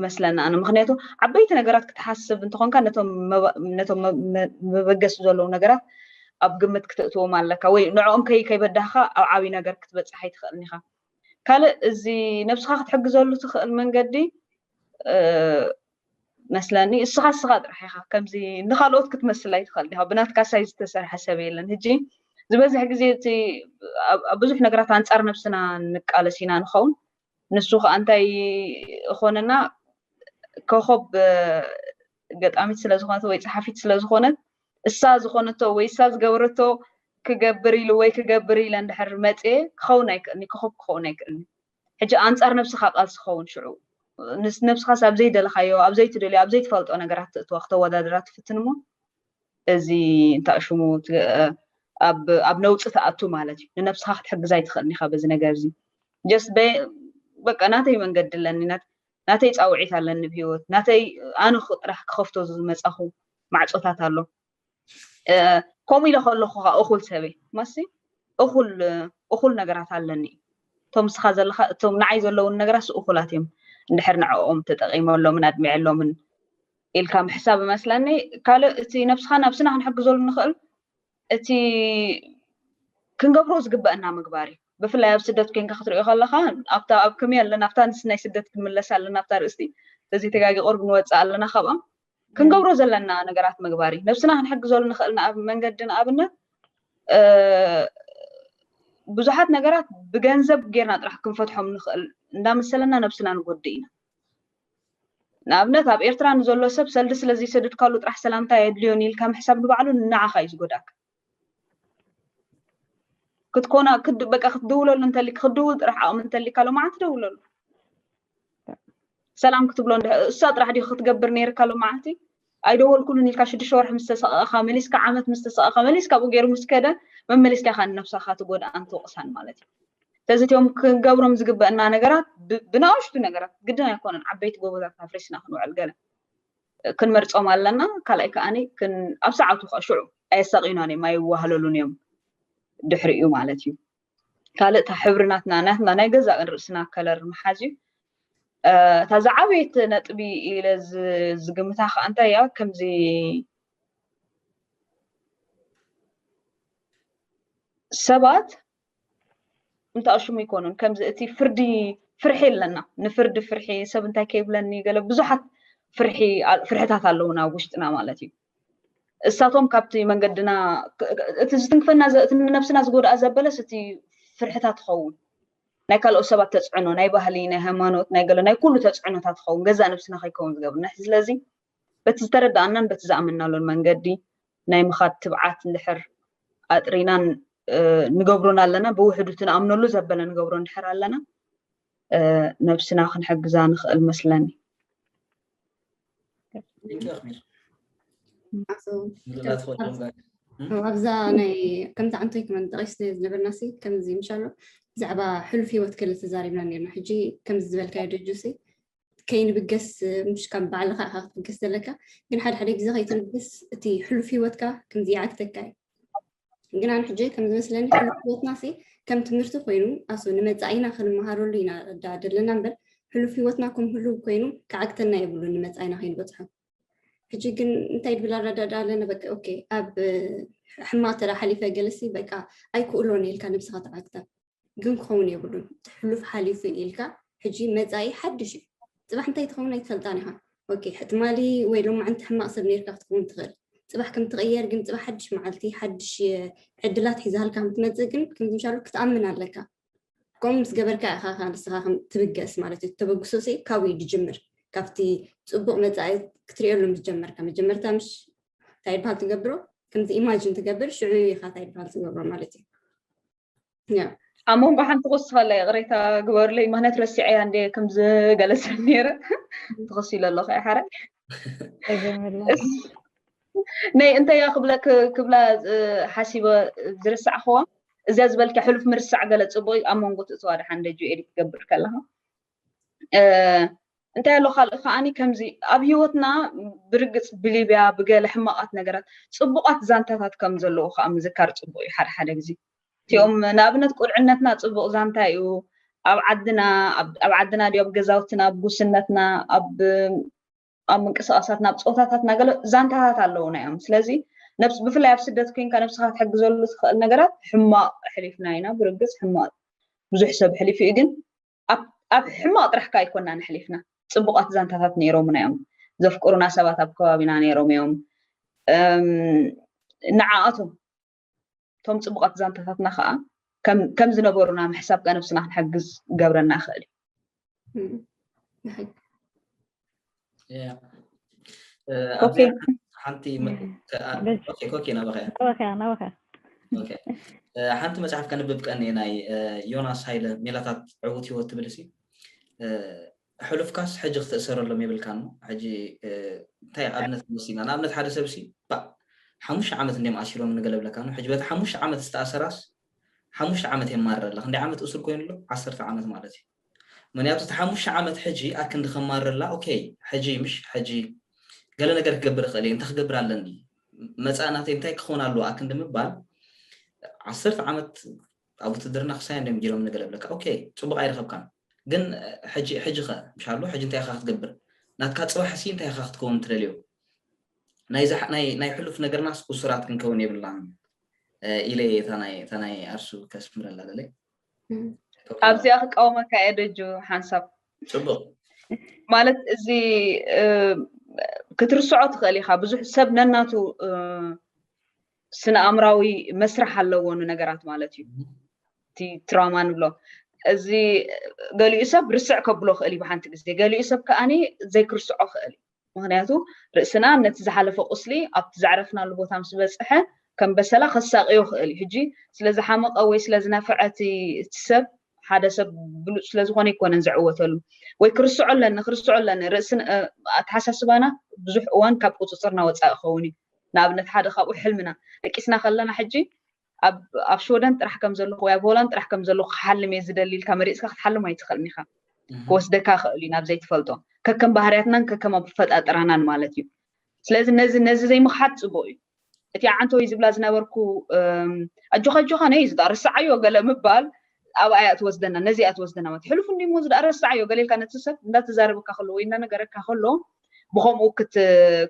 መስለና ኣነ ምክንያቱ ዓበይቲ ነገራት ክትሓስብ እንተኾንካ ነቶም መበገሲ ዘለዉ ነገራት ኣብ ግምት ክትእትዎም ኣለካ ወይ ንዕኦም ከይ ከይበዳህካ ኣብ ዓብዪ ነገር ክትበፅሕ ኣይትኽእልን ኢኻ ካልእ እዚ ነብስኻ ክትሕግዘሉ ትኽእል መንገዲ መስለኒ እስኻ እስኻ ጥራሕ ኢኻ ከምዚ ንካልኦት ክትመስል ኣይትኽእል ዲኻ ብናትካ ሳይ ዝተሰርሐ ሰብ የለን ህጂ ዝበዝሕ ግዜ እቲ ኣብ ብዙሕ ነገራት ኣንጻር ነብስና ንቃለስ ኢና ንኸውን ንሱ ከዓ እንታይ እኾነና ኮኸብ ገጣሚት ስለ ዝኾነት ወይ ፀሓፊት ስለ ዝኾነት እሳ ዝኾነቶ ወይ እሳ ዝገበረቶ ክገብር ኢሉ ወይ ክገብር ኢለ እንድሕር መፅየ ክኸውን ኣይክእልኒ ኮኸብ ክኸውን ኣይክእልኒ ሕጂ ኣንጻር ነብስኻ ቃልሲ ክኸውን ሽዑ ንነብስኻስ ኣብ ዘይደለኻዮ ኣብ ዘይትደልዮ ኣብ ዘይትፈልጦ ነገራት ትእትዋ ክተወዳድራ ትፍትን እሞ እዚ እንታይ ሽሙ ኣብ ኣብ ነውጺ ትኣቱ ማለት እዩ ንነብስኻ ክትሕግዝ ኣይትኽእልን ኢኻ በዚ ነገር እዚ ጀስት በቃ ናተይ መንገዲ ኣለኒ ናተይ ጻውዒት ኣለኒ ብሂወት ናተይ ኣነ ጥራሕ ክኸፍቶ ዝመጻኹ ማዕጾታት ኣሎ ከምኡ ኢለ ከለኹ ከዓ እኹል ሰበይ ማሲ እኹል እኹል ነገራት ኣለኒ እዩ እቶም ንስኻ ዘለካ እቶም ንዓይ ዘለውን ነገራት እኹላት እዮም እንድሕር ንዕኦም ተጠቂመሎምን ኣድሚዐሎምን ኢልካ ምሕሳብ እመስለኒ ካልእ እቲ ነብስኻ ነብስና ክንሕግዘሉ ንኽእል እቲ ክንገብሮ ዝግበአና ምግባር እዩ ብፍላይ ኣብ ስደት ኮንካ ክትሪኦ ከለካ ኣብታ ኣብ ከመይ ኣለና ኣብታ ንስናይ ስደት ክንምለስ ኣለና ኣብታ ርእስቲ እዚ ተጋጊ ቁርብ ንወፅእ ኣለና ካብኦም ክንገብሮ ዘለና ነገራት ምግባር እዩ ነብስና ክንሕግዘሉ ንኽእል ንኣብ መንገዲ ንኣብነት ብዙሓት ነገራት ብገንዘብ ጌርና ጥራሕ ክንፈትሖም ንኽእል እንዳመሰለና ነብስና ንጎድእ ኢና ንኣብነት ኣብ ኤርትራ ንዘሎ ሰብ ሰልዲ ስለ ዘይሰድድካሉ ጥራሕ ሰላምታ የድልዮን ኢልካ ምሕሳብ ንባዕሉ ንዓኻ እዩ ዝጎዳእካ ክትኮና በቃ ክትድውለሉ እንተሊ ክትድውል ጥራሕ ዓቕሚ እንተሊካ ሎማዓንቲ ደውለሉ ሰላም ክትብሎ እሳ ጥራሕ ዲ ክትገብር ነይርካ ሎማዓንቲ ኣይደወልኩሉን ኢልካ ሽዱሽተ ወርሒ ምስ ተሰቐኻ መሊስካ ዓመት ምስ ተሰቐኻ መሊስካ ብኡ ገይሩ ምስ ከደ መመሊስካ ኢኻ ንነብሳኻ ትጎድኣን ትወቕሳን ማለት እዩ ስለዚ እትኦም ክንገብሮም ዝግበአና ነገራት ብናእሽቱ ነገራት ግድን ኣይኮነን ዓበይቲ ጎቦታት ኣፍሪስና ክንውዕል ገለ ክንመርፆም ኣለና ካልኣይ ከዓኒ ኣብ ሰዓቱ ከዓ ሽዑ ኣየሳቂናን እዮም ኣይዋህለሉን እዮም ድሕሪ እዩ ማለት እዩ ካልእ እታ ሕብሪ ናትና ናትና ናይ ገዛ ርእስና ከለር ምሓዝ እዩ እታ ዝዓበየት ነጥቢ ኢለ ዝግምታ ከዓ እንታይ እያ ከምዚ ሰባት እንተኣሽሙ ይኮኑን ከምዚ እቲ ፍርዲ ፍርሒ ኣለና ንፍርዲ ፍርሒ ሰብ እንታይ ከይብለኒ ገለ ብዙሓት ፍርሒ ፍርሕታት ኣለውና ኣብ ውሽጥና ማለት እዩ እሳቶም ካብቲ መንገድና እቲ ዝትንክፈና እቲ ንነብስና ዝጎድኣ ዘበለስ እቲ ፍርሕታት ትኸውን ናይ ካልኦት ሰባት ተፅዕኖ ናይ ባህሊ ናይ ሃይማኖት ናይ ገለ ናይ ኩሉ ተፅዕኖታት ትኸውን ገዛ ነብስና ከይከውን ዝገብርና ስለዚ በቲ ዝተረዳኣናን በቲ ዝኣመናሉን መንገዲ ናይ ምኻድ ትብዓት እንድሕር ኣጥሪናን ንገብሮን ኣለና ብውሕዱ እቲ ንኣምነሉ ዘበለ ንገብሮ እንድሕር ኣለና ነብስና ክንሕግዛ ንኽእል መስለኒ ኣብዛ
ናይ ከምዚ ዓንቶይ ክመን ጠቂስ ዝነበርና ሲ ከምዚ ምሻሎ ብዛዕባ ሕሉፍ ሂወት ክል ተዛሪብና ነርና ሕጂ ከምዚ ዝበልካዮ ደጁ ሲ ከይንብገስ ምሽ ካብ ባዕልኻ ኢኻ ክትብገስ ዘለካ ግን ሓደ ሓደ ግዜ ከይትንብገስ እቲ ሕሉፍ ሂወትካ ከምዚ ይዓግተካ እዩ ግን ኣነ ሕጂ ከም ዝመስለኒ ሕሉፍ ሂወትና ሲ ከም ትምህርቲ ኮይኑ ኣሱ ንመፃኢና ክንመሃረሉ ኢና ዳ ደለና እምበር ሕሉፍ ሂወትና ከም ህሉው ኮይኑ ክዓግተና የብሉ ንመፃኢና ከይንበፅሖ ሕጂ ግን እንታይ ድብል ኣረዳዳ ኣለና በቃ ኦኬ ኣብ ሕማቅ ተራ ሓሊፈ ገለሲ በቃ ኣይክእሎን ኢልካ ነብስኻ ተዓግታ ግን ክኸውን የብሉን እቲ ሕሉፍ ሓሊፉ እዩ ኢልካ ሕጂ መጻኢ ሓድሽ እዩ ጽባሕ እንታይ ትኸውን ኣይትፈልጣን ኢኻ ኦኬ ትማሊ ወይ ሎማዕንቲ ሕማቕ ሰብ ነርካ ክትከውን ትኽእል ጽባሕ ከም ትቕየር ግን ጽባሕ ሓድሽ መዓልቲ ሓድሽ ዕድላት ሒዛልካ ከም ትመጽእ ግን ከምዚ ምሻሉ ክትኣምን ኣለካ ከምኡ ምስ ገበርካ ኢኻ ካ ንስኻ ከም ትብገስ ማለት እዩ ተበግሶ ሲ ካብኡ እዩ ዝጅምር ካብቲ ጽቡቕ መጻኢ ክትሪኦ ሎም ዝጀመርካ መጀመርታ ምሽ እንታይ ይበሃል ትገብሮ ከምዚ ኢማጅን ትገብር ሽዑ ኢኻ እንታይ ይበሃል ትገብሮ ማለት እዩ ኣብ መንጎ
ሓንቲ ክወስኻለ ይቕሬታ ግበርለይ ምክንያት ረሲዐያ እንደ ከም ዝገለሰ ነይረ ትኸሲ ኢለ ኣለኹ እያ ሓረ ናይ እንተያ ክብለ ክብላ ሓሲበ ዝርሳዕኽዋ እዚያ ዝበልኪ ሕሉፍ ምርሳዕ ገለ ፅቡቅ ኣብ መንጎ ትእፅዋ ድሓን ደጁ ኤዲት ትገብር ከለካ እንታይ ኣሎ ካልእ ከዓኒ ከምዚ ኣብ ሂወትና ብርግፅ ብሊብያ ብገለ ሕማቓት ነገራት ፅቡቓት ዛንታታት ከም ዘለዎ ከዓ ምዝካር ፅቡቕ እዩ ሓደ ሓደ ግዜ እቲኦም ንኣብነት ቁልዕነትና ፅቡቕ ዛንታ እዩ ኣብ ዓድና ኣብ ዓድና ድዮ ኣብ ገዛውትና ኣብ ጉስነትና ኣብ ኣብ ምንቅስቃሳትና ኣብ ፀወታታትና ገለ ዛንታታት ኣለውና እዮም ስለዚ ነብስ ብፍላይ ኣብ ስደት ኮንካ ነብስኻ ትሕግዘሉ ትኽእል ነገራት ሕማቕ ሕሊፍና ኢና ብርግፅ ሕማቕ ብዙሕ ሰብ ሕሊፉ እዩ ግን ኣብ ሕማቕ ጥራሕካ ኣይኮናን ኣሕሊፍና ጽቡቓት ዛንታታት ነይሮሙና እዮም ዘፍቅሩና ሰባት ኣብ ከባቢና ነይሮም እዮም ንዓኣቶም እቶም ጽቡቓት ዛንታታትና ከዓ ከም ዝነበሩና ምሕሳብ ከነብስና ክንሕግዝ ገብረና ይኽእል እዩ
ሓንቲ መፅሓፍ ከንብብ ቀኒ ናይ ዮናስ ሃይለ ሜላታት ዕውት ህይወት ትብል ሲ ሕሉፍካስ ሕጂ ክትእሰረሎም የብልካን ሕጂ እንታይ ኣብነት ወሲድና ንኣብነት ሓደ ሰብ ሲ ሓሙሽተ ዓመት እንዲም ኣሲሮም ንገለብለካ ኖ ሕጂ በቲ ሓሙሽተ ዓመት ዝተኣሰራስ ሓሙሽተ ዓመት የማርር ኣላ ክንደይ ዓመት እሱር ኮይኑ ኣሎ ዓሰርተ ዓመት ማለት እዩ ምክንያቱ እቲ ሓሙሽተ ዓመት ሕጂ ኣክንዲ ከማርረላ ኦከይ ሕጂ ምሽ ሕጂ ገለ ነገር ክገብር እክእል እየ እንታይ ክገብር ኣለኒ መጻኢ ናተይ እንታይ ክኮን ኣለዎ ኣክንዲ ምባል ዓሰርተ ዓመት ኣብ ውትድርና ክሳይ እንድዮም ጌሮም ንገለ ብለካ ኦከይ ጽቡቅ ኣይረከብካን ግን ሕጂ ሕጂ ከ ምሽ ኣሎ ሕጂ እንታይ ኢካ ክትገብር ናትካ ጽባሕ ሲ እንታይ ኢካ ክትከውን ትደልዮ ናይዛ ናይ ናይ ሕሉፍ ነገርናስ እሱራት ክንከውን የብልናን ኢለ እየ እታ ናይ ኣርሱ ከስምረላ ደለይ
ኣብዚኣ ክቃወመካ እየ ደጁ ሓንሳብ ፅቡቅ
ማለት
እዚ ክትርስዖ ትኽእል ኢኻ ብዙሕ ሰብ ነናቱ ስነ ኣእምራዊ መስርሕ ኣለዎ ንነገራት ማለት እዩ እቲ ትራማ ንብሎ እዚ ገሊኡ ሰብ ርስዕ ከብሎ ክእል እዩ ብሓንቲ ግዜ ገሊኡ ሰብ ከዓኒ ዘይክርስዖ ክእል እዩ ምኽንያቱ ርእስና ነቲ ዝሓለፈ ቁስሊ ኣብቲ ዘዕረፍናሉ ቦታ ምስ በጽሐ ከም በሰላ ከሳቕዮ ይኽእል እዩ። ሕጂ ስለ ዝሓመቐ ወይ ስለ ዝነፈዐ እቲ ሰብ ሓደ ሰብ ብሉጽ ስለ ዝኾነ ኣይኮነን ዝዕወተሉ ወይ ክርስዖ ኣለኒ ክርስዖ ኣለኒ ርእሲ ኣተሓሳስባና ብዙሕ እዋን ካብ ቁጽጽርና ወጻኢ ክኸውን እዩ ንኣብነት ሓደ ካብኡ ሕልምና ደቂስና ከለና ሕጂ ኣብ ሽወደን ጥራሕ ከም ዘለኹ ወይ ኣብ ሆላንድ ጥራሕ ከም ዘለኹ ክሓልም እየ ዝደሊ ኢልካ መሪፅካ ክትሓልም ኣይትኽእልን ኢኻ ክወስደካ ክእል እዩ ናብ ዘይትፈልጦ ከከም ባህርያትናን ከከም ኣፈጣጥራናን ማለት እዩ ስለዚ ነዚ ነዚ ዘይምኽሓድ ፅቡቅ እዩ እቲ ዓንተወይ ዝብላ ዝነበርኩ ኣጆኻ ኣጆኻ ነይ ዝዳ ርስዓዮ ገለ ምባል ኣብኣ እያ ትወስደና ነዚ እያ ትወስደና ማለት ሕሉፍ እንዲ ሞ ዝዳ ርስዓዮ ገለ ኢልካ ነቲ ሰብ እንዳተዛረበካ ከሎ ወይ እንዳነገረካ ከሎ ብከምኡ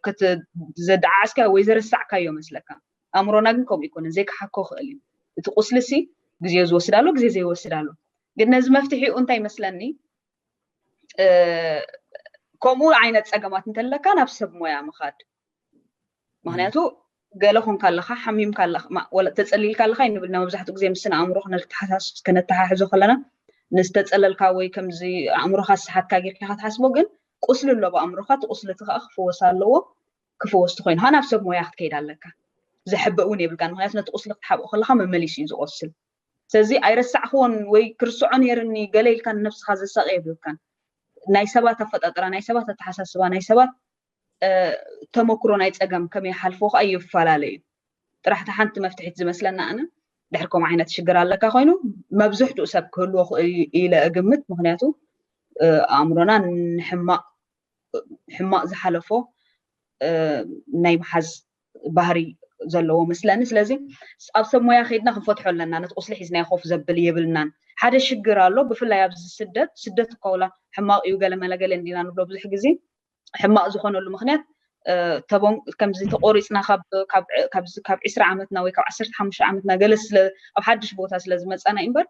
ክትዘደዓዓስካዮ ወይ ዘረሳዕካዮ መስለካ ኣእምሮና ግን ከምኡ ኣይኮነን ዘይክሓኮ ይኽእል እዩ እቲ ቁስሊሲ ግዜ ዝወስድ ኣሎ ግዜ ዘይወስድ ኣሎ ግን ነዚ መፍትሒኡ እንታይ ይመስለኒ ከምኡ ዓይነት ፀገማት እንተለካ ናብ ሰብ ሞያ ምኻድ ምክንያቱ ገለ ኮንካ ኣለካ ሓሚምካ ኣለካ ተፀሊልካ ኣለካ ይንብልና መብዛሕትኡ ግዜ ምስና ኣእምሮ ክነተሓሕዞ ከለና ንዝተፀለልካ ወይ ከምዚ ኣእምሮካ ዝሰሓትካ ጌርካ ክትሓስቦ ግን ቁስሊ ኣሎ ብኣእምሮካ እቲ ቁስሊ እቲ ከዓ ክፍወስ ኣለዎ ክፍወስ ተኾይኑ ኸኣ ናብ ሰብ ሞያ ክትከይድ ኣለካ። ዘሕበእ እውን የብልካን ምኽንያቱ ነቲ ቁስሊ ክትሓብኦ ከለኻ መመሊሱ እዩ ዝቖስል። ስለዚ ኣይረሳዕክዎን ወይ ክርስዖ ነይርኒ ገለ ኢልካ ንነብስኻ ዘሳቒ የብልካን። ናይ ሰባት ኣፈጣጥራ፣ ናይ ሰባት ኣተሓሳስባ፣ ናይ ሰባት ተመክሮ ናይ ጸገም ከመይ ይሓልፍዎ ኸኣ ይፋላለ እዩ። ጥራሕ እታ ሓንቲ መፍትሒት ዝመስለኒ ኣነ ድሕሪ ከምኡ ዓይነት ሽግር ኣለካ ኮይኑ መብዝሕትኡ ሰብ ክህልዎ ኢለ እግምት ምኽንያቱ ኣእምሮና ንሕማቕ ሕማቅ ዝሓለፎ ናይ ምሓዝ ባህሪ ዘለዎ መስለኒ ስለዚ ኣብ ሰብ ሞያ ከይድና ክንፈትሖ ኣለና ነቲ ቁስሊ ሒዝናዮ ኮፍ ዘብል የብልናን ሓደ ሽግር ኣሎ ብፍላይ ኣብዚ ስደት ስደት እኳ ውላ ሕማቅ እዩ ገለ መለ ገለ እንዲና ንብሎ ብዙሕ ግዜ ሕማቅ ዝኾነሉ ምክንያት ተቦን ከምዚ ተቆሪፅና ካብ ዕስራ ዓመትና ወይ ካብ ዓሰርተ ሓሙሽተ ዓመትና ገለ ስለ ኣብ ሓድሽ ቦታ ስለ ዝመፃና እዩ እምበር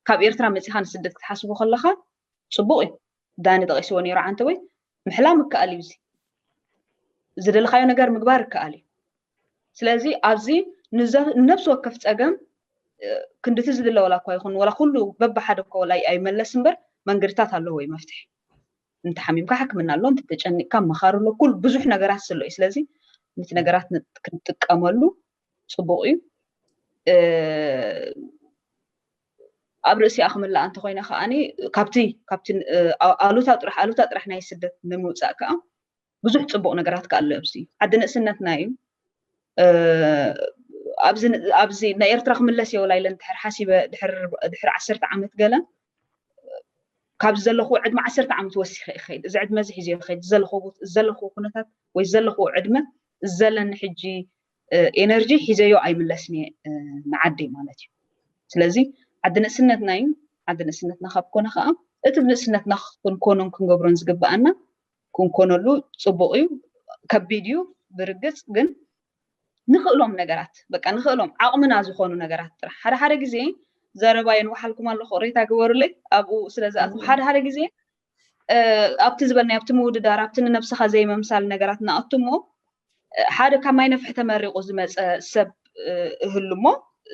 ካብ ኤርትራ መፂኻ ንስደት ክትሓስቦ ከለኻ ጽቡቅ እዩ ዳኒ ጠቂስዎ ኔሩ ዓንተቦይ ምሕላም ይከኣል እዩ እዚ ዝደለኻዮ ነገር ምግባር ይከኣል እዩ ስለዚ ኣብዚ ንነብሲ ወከፍ ጸገም ክንድቲ ዝድለ ወላ እኳ ይኹን ወላ ኩሉ በብሓደ እኮ ወላ ኣይመለስ እምበር መንገድታት ኣለዎ እዩ መፍትሒ እንተሓሚምካ ሕክምና ኣሎ እንተተጨኒቅካ መኻሪ ኣሎ ኩል ብዙሕ ነገራት ስለ እዩ ስለዚ ነቲ ነገራት ክንጥቀመሉ ፅቡቅ እዩ ኣብ ርእሲኣ ክምልኣ እንተኾይና ከኣ ካብቲ ካብቲ ኣሉታ ጥራሕ ኣሉታ ጥራሕ ናይ ስደት ንምውፃእ ከኣ ብዙሕ ፅቡቕ ነገራት ከኣ ኣሎ ኣብዚ ዓዲ ንእስነትና እዩ ኣብዚ ኣብዚ ናይ ኤርትራ ክምለስ እየ ወላይለ ድሕር ሓሲበ ድሕር ዓሰርተ ዓመት ገለ ካብዚ ዘለኹ ዕድመ ዓሰርተ ዓመት ወሲኸ ይኸይድ እዚ ዕድመ እዚ ሒዘ ይኸይድ ዘለኹ ዘለኹ ኩነታት ወይ ዘለኹ ዕድመ ዘለኒ ሕጂ ኤነርጂ ሒዘዮ ኣይምለስን እየ ንዓደይ ማለት እዩ ስለዚ ዓዲ ንእስነትና እዩ ዓዲ ንእስነትና ካብ ኮነ ከዓ እቲ ብንእስነትና ክንኮኖን ክንገብሮን ዝግብኣና ክንኮነሉ ፅቡቅ እዩ ከቢድ እዩ ብርግፅ ግን ንኽእሎም ነገራት በቃ ንኽእሎም ዓቕምና ዝኾኑ ነገራት ጥራሕ ሓደ ሓደ ግዜ ዘረባ የንውሓልኩም ኣለኹ ሬታ ግበሩለይ ኣብኡ ስለ ዝኣትኹ ሓደ ሓደ ግዜ ኣብቲ ዝበልናዮ ኣብቲ ምውድዳር ኣብቲ ንነብስኻ ዘይምምሳል ነገራት ንኣቱ እሞ ሓደ ካብ ማይ ነፍሒ ተመሪቑ ዝመፀ ሰብ እህሉ እሞ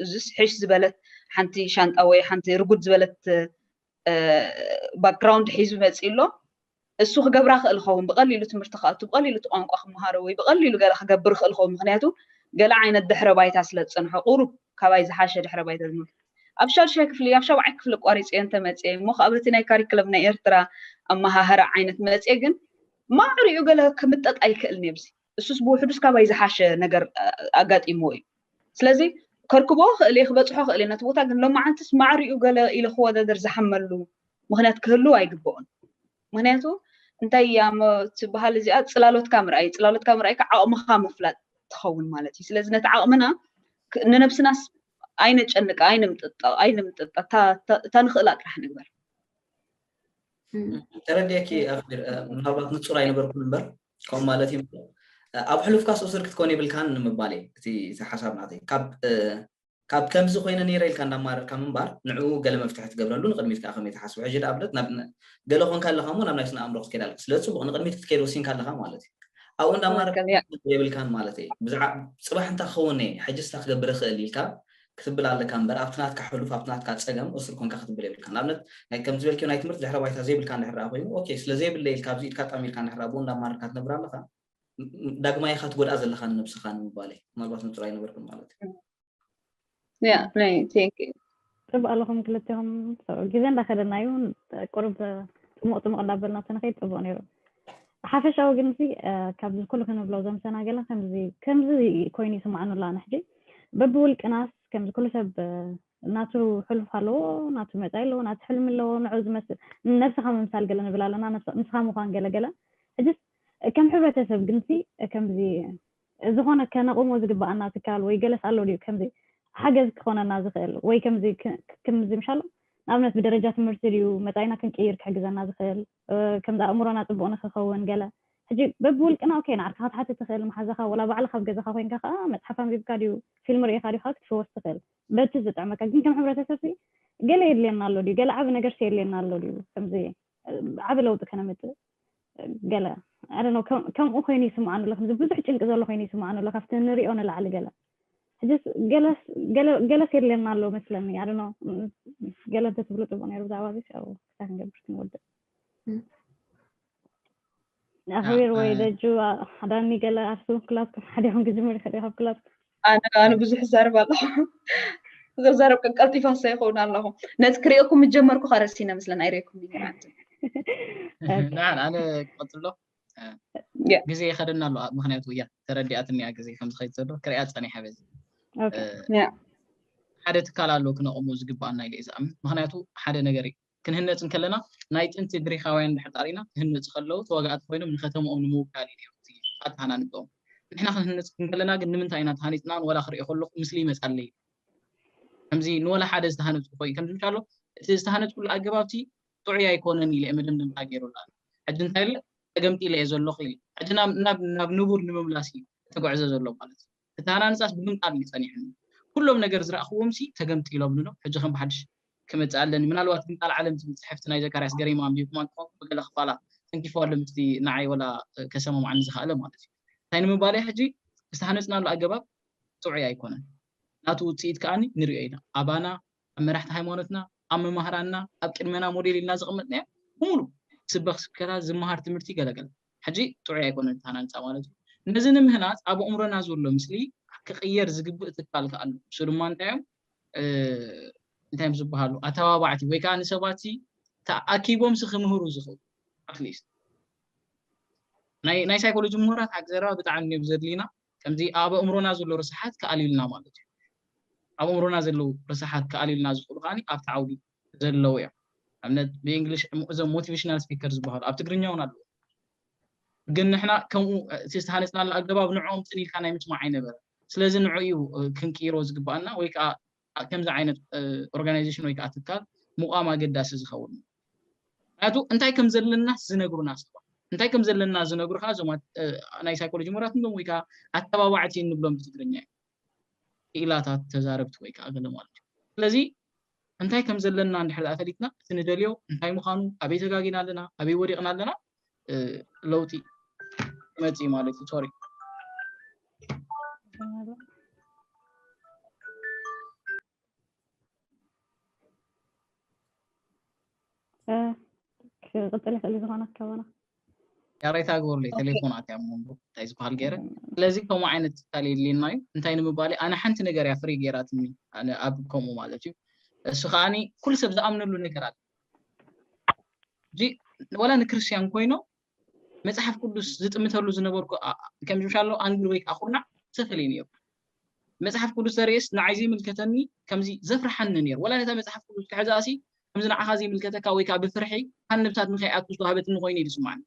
እዚስ ሕሽ ዝበለት ሓንቲ ሻንጣ ወይ ሓንቲ ርጉድ ዝበለት ባክግራውንድ ሒዙ መፅኡ ኣሎ እሱ ክገብራ ክእል ኸውን ብቐሊሉ ትምህርቲ ክኣቱ ብቐሊሉ እቲ ቋንቋ ክምሃሮ ወይ ብቐሊሉ ገለ ክገብር ክእል ኸውን ምክንያቱ ገለ ዓይነት ድሕረ ባይታ ስለ ዝፀንሖ ቁሩብ ካባይ ዝሓሸ ድሕረ ባይታ ዝመ ኣብ ሻዱሻይ ክፍሊ ኣብ ሻብዓይ ክፍሊ ኣቋሪጸዮ እንተ መጽየ እሞ ከኣ በቲ ናይ ካሪክለም ናይ ኤርትራ ኣመሃህራ ዓይነት መጽየ ግን ማዕሪኡ ገለ ክምጠጥ ኣይክእልን እየ ብዚ እሱስ ብውሕዱስ ካባይ ዝሓሸ ነገር ኣጋጢምዎ እዩ ስለዚ ከርክቦ ክእል እየ ክበጽሖ ክእል እየ ነቲ ቦታ ግን ሎማዓንትስ ማዕሪኡ ገለ ኢለ ክወዳደር ዝሓመሉ ምክንያት ክህሉ ኣይግብኦን ምክንያቱ እንታይ እያ ትበሃል እዚኣ ፅላሎትካ ምርኣይ ፅላሎትካ ምርኣይ ከዓ ዓቕምኻ ምፍላጥ ትኸውን ማለት እዩ ስለዚ ነቲ ዓቕምና ንነብስናስ ኣይነጨንቃ ኣይንምጥጠ ኣይንምጥጠ እታ እታ ንኽእላ ጥራሕ ንግበር
ተረዲእኪ ኣፍር ምናልባት ንጹር ኣይነበርኩን እምበር ከምኡ ማለት እዩ ኣብ ሕሉፍካ ሱስር ክትኮን የብልካን ንምባል እዩ እቲ ሓሳብ ናተይ ካብ ከምዚ ኮይነ ነይረ ኢልካ እንዳማረርካ ምንባር ንዕኡ ገለ መፍትሒ ትገብረሉ ንቅድሚት ከዓ ከመይ ትሓስቡ ሕጂ ንኣብነት ገለ ኮንካ ኣለካ እሞ ናብ ናይ ስነ ኣእምሮ ክትከይድ ኣለካ ስለ ፅቡቅ ንቅድሚት ክትከይድ ወሲንካ ኣለካ ማለት እዩ ኣብኡ እንዳ ኣማራጺ ትክክል ያ የብልካን ማለት እየ ብዛዕ ጽባሕ እንታይ ክኸውን እየ ሕጅስ እንታይ ክገብር እኽእል ኢልካ ክትብል ኣለካ እምበር ኣብቲ ናትካ ሕሉፍ ኣብቲ ናትካ ጸገም እሱር ኮንካ ክትብል የብልካን ንኣብነት ናይ ከም ዝበልክዮ ናይ ትምህርቲ ድሕረ ባይታ ዘይብልካ እንድሕር ደኣ ኮይኑ ኦኬ ስለ ዘይብለይ ኢልካ ኣብዚ ኢድካ ኣጣሚርካ እንድሕር ኣብኡ እንዳ ኣማረርካ ትነብር ኣለኻ ም- ዳግማይ ኢኻ ትጎድኣ ዘለኻ ንነብስኻ ንምባል እየ ምናልባት ንጹር ኣይነበርኩን ማለት እዩ
ያ ናይ ቴንክ ጽቡቅ ኣለኹም
ክልቴኹም ግዜ እንዳኸደና እዩ ቁርብ ጥሙቅ ጥሙቅ እንዳበልና ተንኸይድ ጽቡቅ ነይሩ ሓፈሻዊ ግን ሲ ካብዚ ኩሉ ክንብሎ ዘምሰና ገለ ከምዚ ከምዚ ኮይኑ ይስማዕኑ ኣላ ንሕጂ በብውልቅናስ ከምዚ ኩሉ ሰብ ናቱ ሕሉፍ ኣለዎ ናቱ መጻኢ ኣለዎ ናቱ ሕልሚ ኣለዎ ንዑ ዝመስል ነብስኻ ምምሳል ገለ ንብል ኣለና ንስኻ ምዃን ገለገለ ሕጅስ ከም ሕብረተሰብ ግንሲ ከምዚ ዝኾነ ከነቑሞ ዝግበኣና ትካል ወይ ገለስ ኣሎ ድዩ ከምዚ ሓገዝ ክኾነና ዝኽእል ወይ ከምዚ ክምዚ ምሻሎ ንኣብነት ብደረጃ ትምህርቲ ድዩ መጻኢና ክንቅይር ክሕግዘና ዝኽእል ከምዚ ኣእምሮና ጽቡቕ ንኽኸውን ገለ ሕጂ በብውልቅና ኦኬ ንዓርካ ክትሓትት ትኽእል መሓዛኻ ወላ ባዕልኻ ኣብ ገዛኻ ኮይንካ ከኣ መጽሓፍ ኣንቢብካ ድዩ ፊልም ርኢኻ ድዩ ከኣ ክትፍወስ ትኽእል በቲ ዝጥዕመካ ግን ከም ሕብረተሰብሲ ገለ የድልየና ኣሎ ድዩ ገለ ዓቢ ነገርሲ የድልየና ኣሎ ድዩ ከምዚ ዓቢ ለውጢ ከነምጽእ ገለ ኣደኖ ከምኡ ኮይኑ ይስምዓኑ ኣሎ ከምዚ ብዙሕ ጭንቂ ዘሎ ኮይኑ ይስምዓኑ ኣሎ ካብቲ ንሪኦ ንላዕሊ ገለ ሕጅስ ገለስ የድልየና ኣሎ መስለኒ ኣደኖ ገለ እንተትብሉ ፅቡቅ ነይሩ ብዛዕባ እዚ ክሳብ ክንገብር ክንወድእ ንኣኽቢር ወይ ደጁ ሓዳኒ ገለ ኣርሱ ክላትኩም ሓደ ይኹን ክጅምር ይኽእል ካብ ክላትኩም ኣነ ብዙሕ
ዛርብ ኣለኹ ዘዛረብ ቀልጢፋ ሰ ይኸውን ኣለኹ ነቲ ክሪኦኩም ምጀመርኩ ከረሲነ ምስለን ኣይሬኩም
ኣነ ክቐፅሎ ግዜ ይኸደና ኣሎ ምክንያቱ እያ ተረዲኣትኒ እያ ግዜ ከም ዝኸይድ ዘሎ ክሪያ ፀኒሐ በዚ ሓደ ትካል ኣሎ ክነቕሙ ዝግባኣና ኢለ እዩ ዝኣምን ምክንያቱ ሓደ ነገር ክንህነጽ እንከለና ናይ ጥንቲ ግሪኻውያን ብሕጣር ኢና፣ ክህነጹ ከለዉ ተዋጋእቲ ኮይኖም ንከተምኦም ንምውካል እዩ ነይሩ እቲ ኣተሃናንጸኦም። ንሕና ክንህነጽ እንከለና ግን ንምንታይ ኢና ተሃኒጽናን ወላ ክርእዮ ከለኹ ምስሊ ይመጻለይ ከምዚ ንወላ ሓደ ዝተሃነጽኩ ኾይ ከምዚ ምሻሎ እቲ ዝተሃነጽኩሉ ኣገባብ እቲ ጥዑይ ኣይኮነን ኢለ መደምደምታ ገይሩሉ ኣሎ። ሕጂ እንታይ ኢለ ተገምጢለ እየ ዘለኹ ኢለ ሕጂ ናብ ናብ ናብ ንቡር ንምምላስ እዩ ተጓዕዘ ዘሎ ማለት እዩ። ክተሃናንጻስ ብምንቃር እዩ ጸኒሑኒ። ኩሎም ነገር ዝረኣኹዎምሲ ተገምጢሎምኒ'ዶ፣ ሕጂ ከም ብሓድሽ ክመጽእ ኣለኒ። ምናልባት ግን ቃል ዓለም ትብል ጽሕፍቲ ናይ ዘካርያስ ገሪማ ኣንቢብኩማ እንተኾንኩም ብገለ ክፋላ ተንኪፉዋ ኣሎ ምስቲ ንዓይ ወላ ከሰማምዓኒ ዝኸኣለ ማለት'ዩ። እንታይ ንምባል'የ ሕጂ ዝተሃነጽናሉ ኣገባብ ጥዑይ ኣይኮነን። ናቱ ውጽኢት ከኣ ንሪኦ ኢና። ኣባና ኣብ መራሕቲ ሃይማኖትና፣ ኣብ መማህራንና፣ ኣብ ቅድመና ሞዴል ኢልና ዘቐመጥናዮ ብምሉእ ዝስበኽ ስብከታት፣ ዝመሃር ትምህርቲ ገለገለ ሕጂ ጥዑይ ኣይኮነን እቲ ሃናንጻ ማለት እዩ። ነዚ ንምህናጽ ኣብ ኣእምሮና ዘሎ ምስሊ ክቕየር ዝግብእ ትካል ከኣ ኣሎ። ንሱ ድማ እንታይ እዮም እንታይ እዮም ዝበሃሉ ኣተባባዕቲ ወይ ከኣ ንሰባት ተኣኪቦምሲ ክምህሩ ዝኽእሉ ኣትሊስት ናይ ናይ ሳይኮሎጂ ምሁራት ሓቂ ዘረባ ብጣዕሚ እዮም ዘድልዩና ከምዚ ኣብ ኣእምሮና ዘሎ ረሳሓት ክኣልዩልና ማለት እዩ። ኣብ ኣእምሮና ዘለዉ ረሳሓት ክኣልዩልና ዝኽእሉ ከኣ ኣብቲ ዓውዲ ዘለዉ እዮም። ንኣብነት ብእንግሊሽ እዞም ሞቲቬሽናል ስፒከር ዝበሃሉ ኣብ ትግርኛ እውን ኣለዉ። ግን ንሕና ከምኡ እቲ ዝተሃነጽናሉ ኣገባብ ንዕኦም ጽን ኢልካ ናይ ምስማዕ ኣይነበረን። ስለዚ ንዕኡ እዩ ክንቅይሮ ዝግብኣና ወይ ከኣ ኣብ ከምዚ ዓይነት ኦርጋናይዜሽን ወይ ከዓ ትካል ምቋም ኣገዳሲ ዝኸውን እዩ። ምክንያቱ እንታይ ከም ዘለናስ ዝነግሩና ሰባት እንታይ ከም ዘለና ዝነግሩ ከዓ እዞም ናይ ሳይኮሎጂ ምሁራት ንብሎም ወይ ከዓ ኣተባባዕቲ እንብሎም ብትግርኛ እዩ ክኢላታት ተዛረብቲ ወይ ከዓ ገለ ማለት እዩ። ስለዚ እንታይ ከም ዘለና እንድሕር ፈሊጥና እቲ ንደልዮ እንታይ ምዃኑ ኣበይ ተጋጊና ኣለና ኣበይ ወዲቕና ኣለና ለውጢ መፅኢ ማለት እዩ ሶሪ ክቅፅል
ይኽእል እዩ ዝኾነ ኣካባና ያሬታ
ግበሩለይ ቴሌፎናት እያ ሞ እንታይ ዝበሃል ገይረ ስለዚ ከምኡ ዓይነት ትካል የድልየና እዩ እንታይ ንምባል ኣነ ሓንቲ ነገር እያ ፍሪ ገይራትኒ ኣነ ኣብ ከምኡ ማለት እዩ እሱ ከዓኒ ኩሉ ሰብ ዝኣምነሉ ነገር ኣለ እዚ ወላ ንክርስትያን ኮይኖም መጽሓፍ ቅዱስ ዝጥምተሉ ዝነበርኩ ከም ዝምሻሎ ኣንግል ወይ ከዓ ኩርናዕ ዝተፈለዩ ነይሩ መጽሓፍ ቅዱስ ዘርእስ ንዓይ ዘይምልከተኒ ከምዚ ዘፍርሓኒ ነይሩ ወላ ነታ መጽሓፍ ቅዱስ ክሕዛሲ ከምዚ ንዓኻ ዘይምልከተካ ወይ ከዓ ብፍርሒ ካብ ንብታት ንከይኣቱ ዝተዋህበትኒ ኮይኑ እዩ ዝስማዕኒ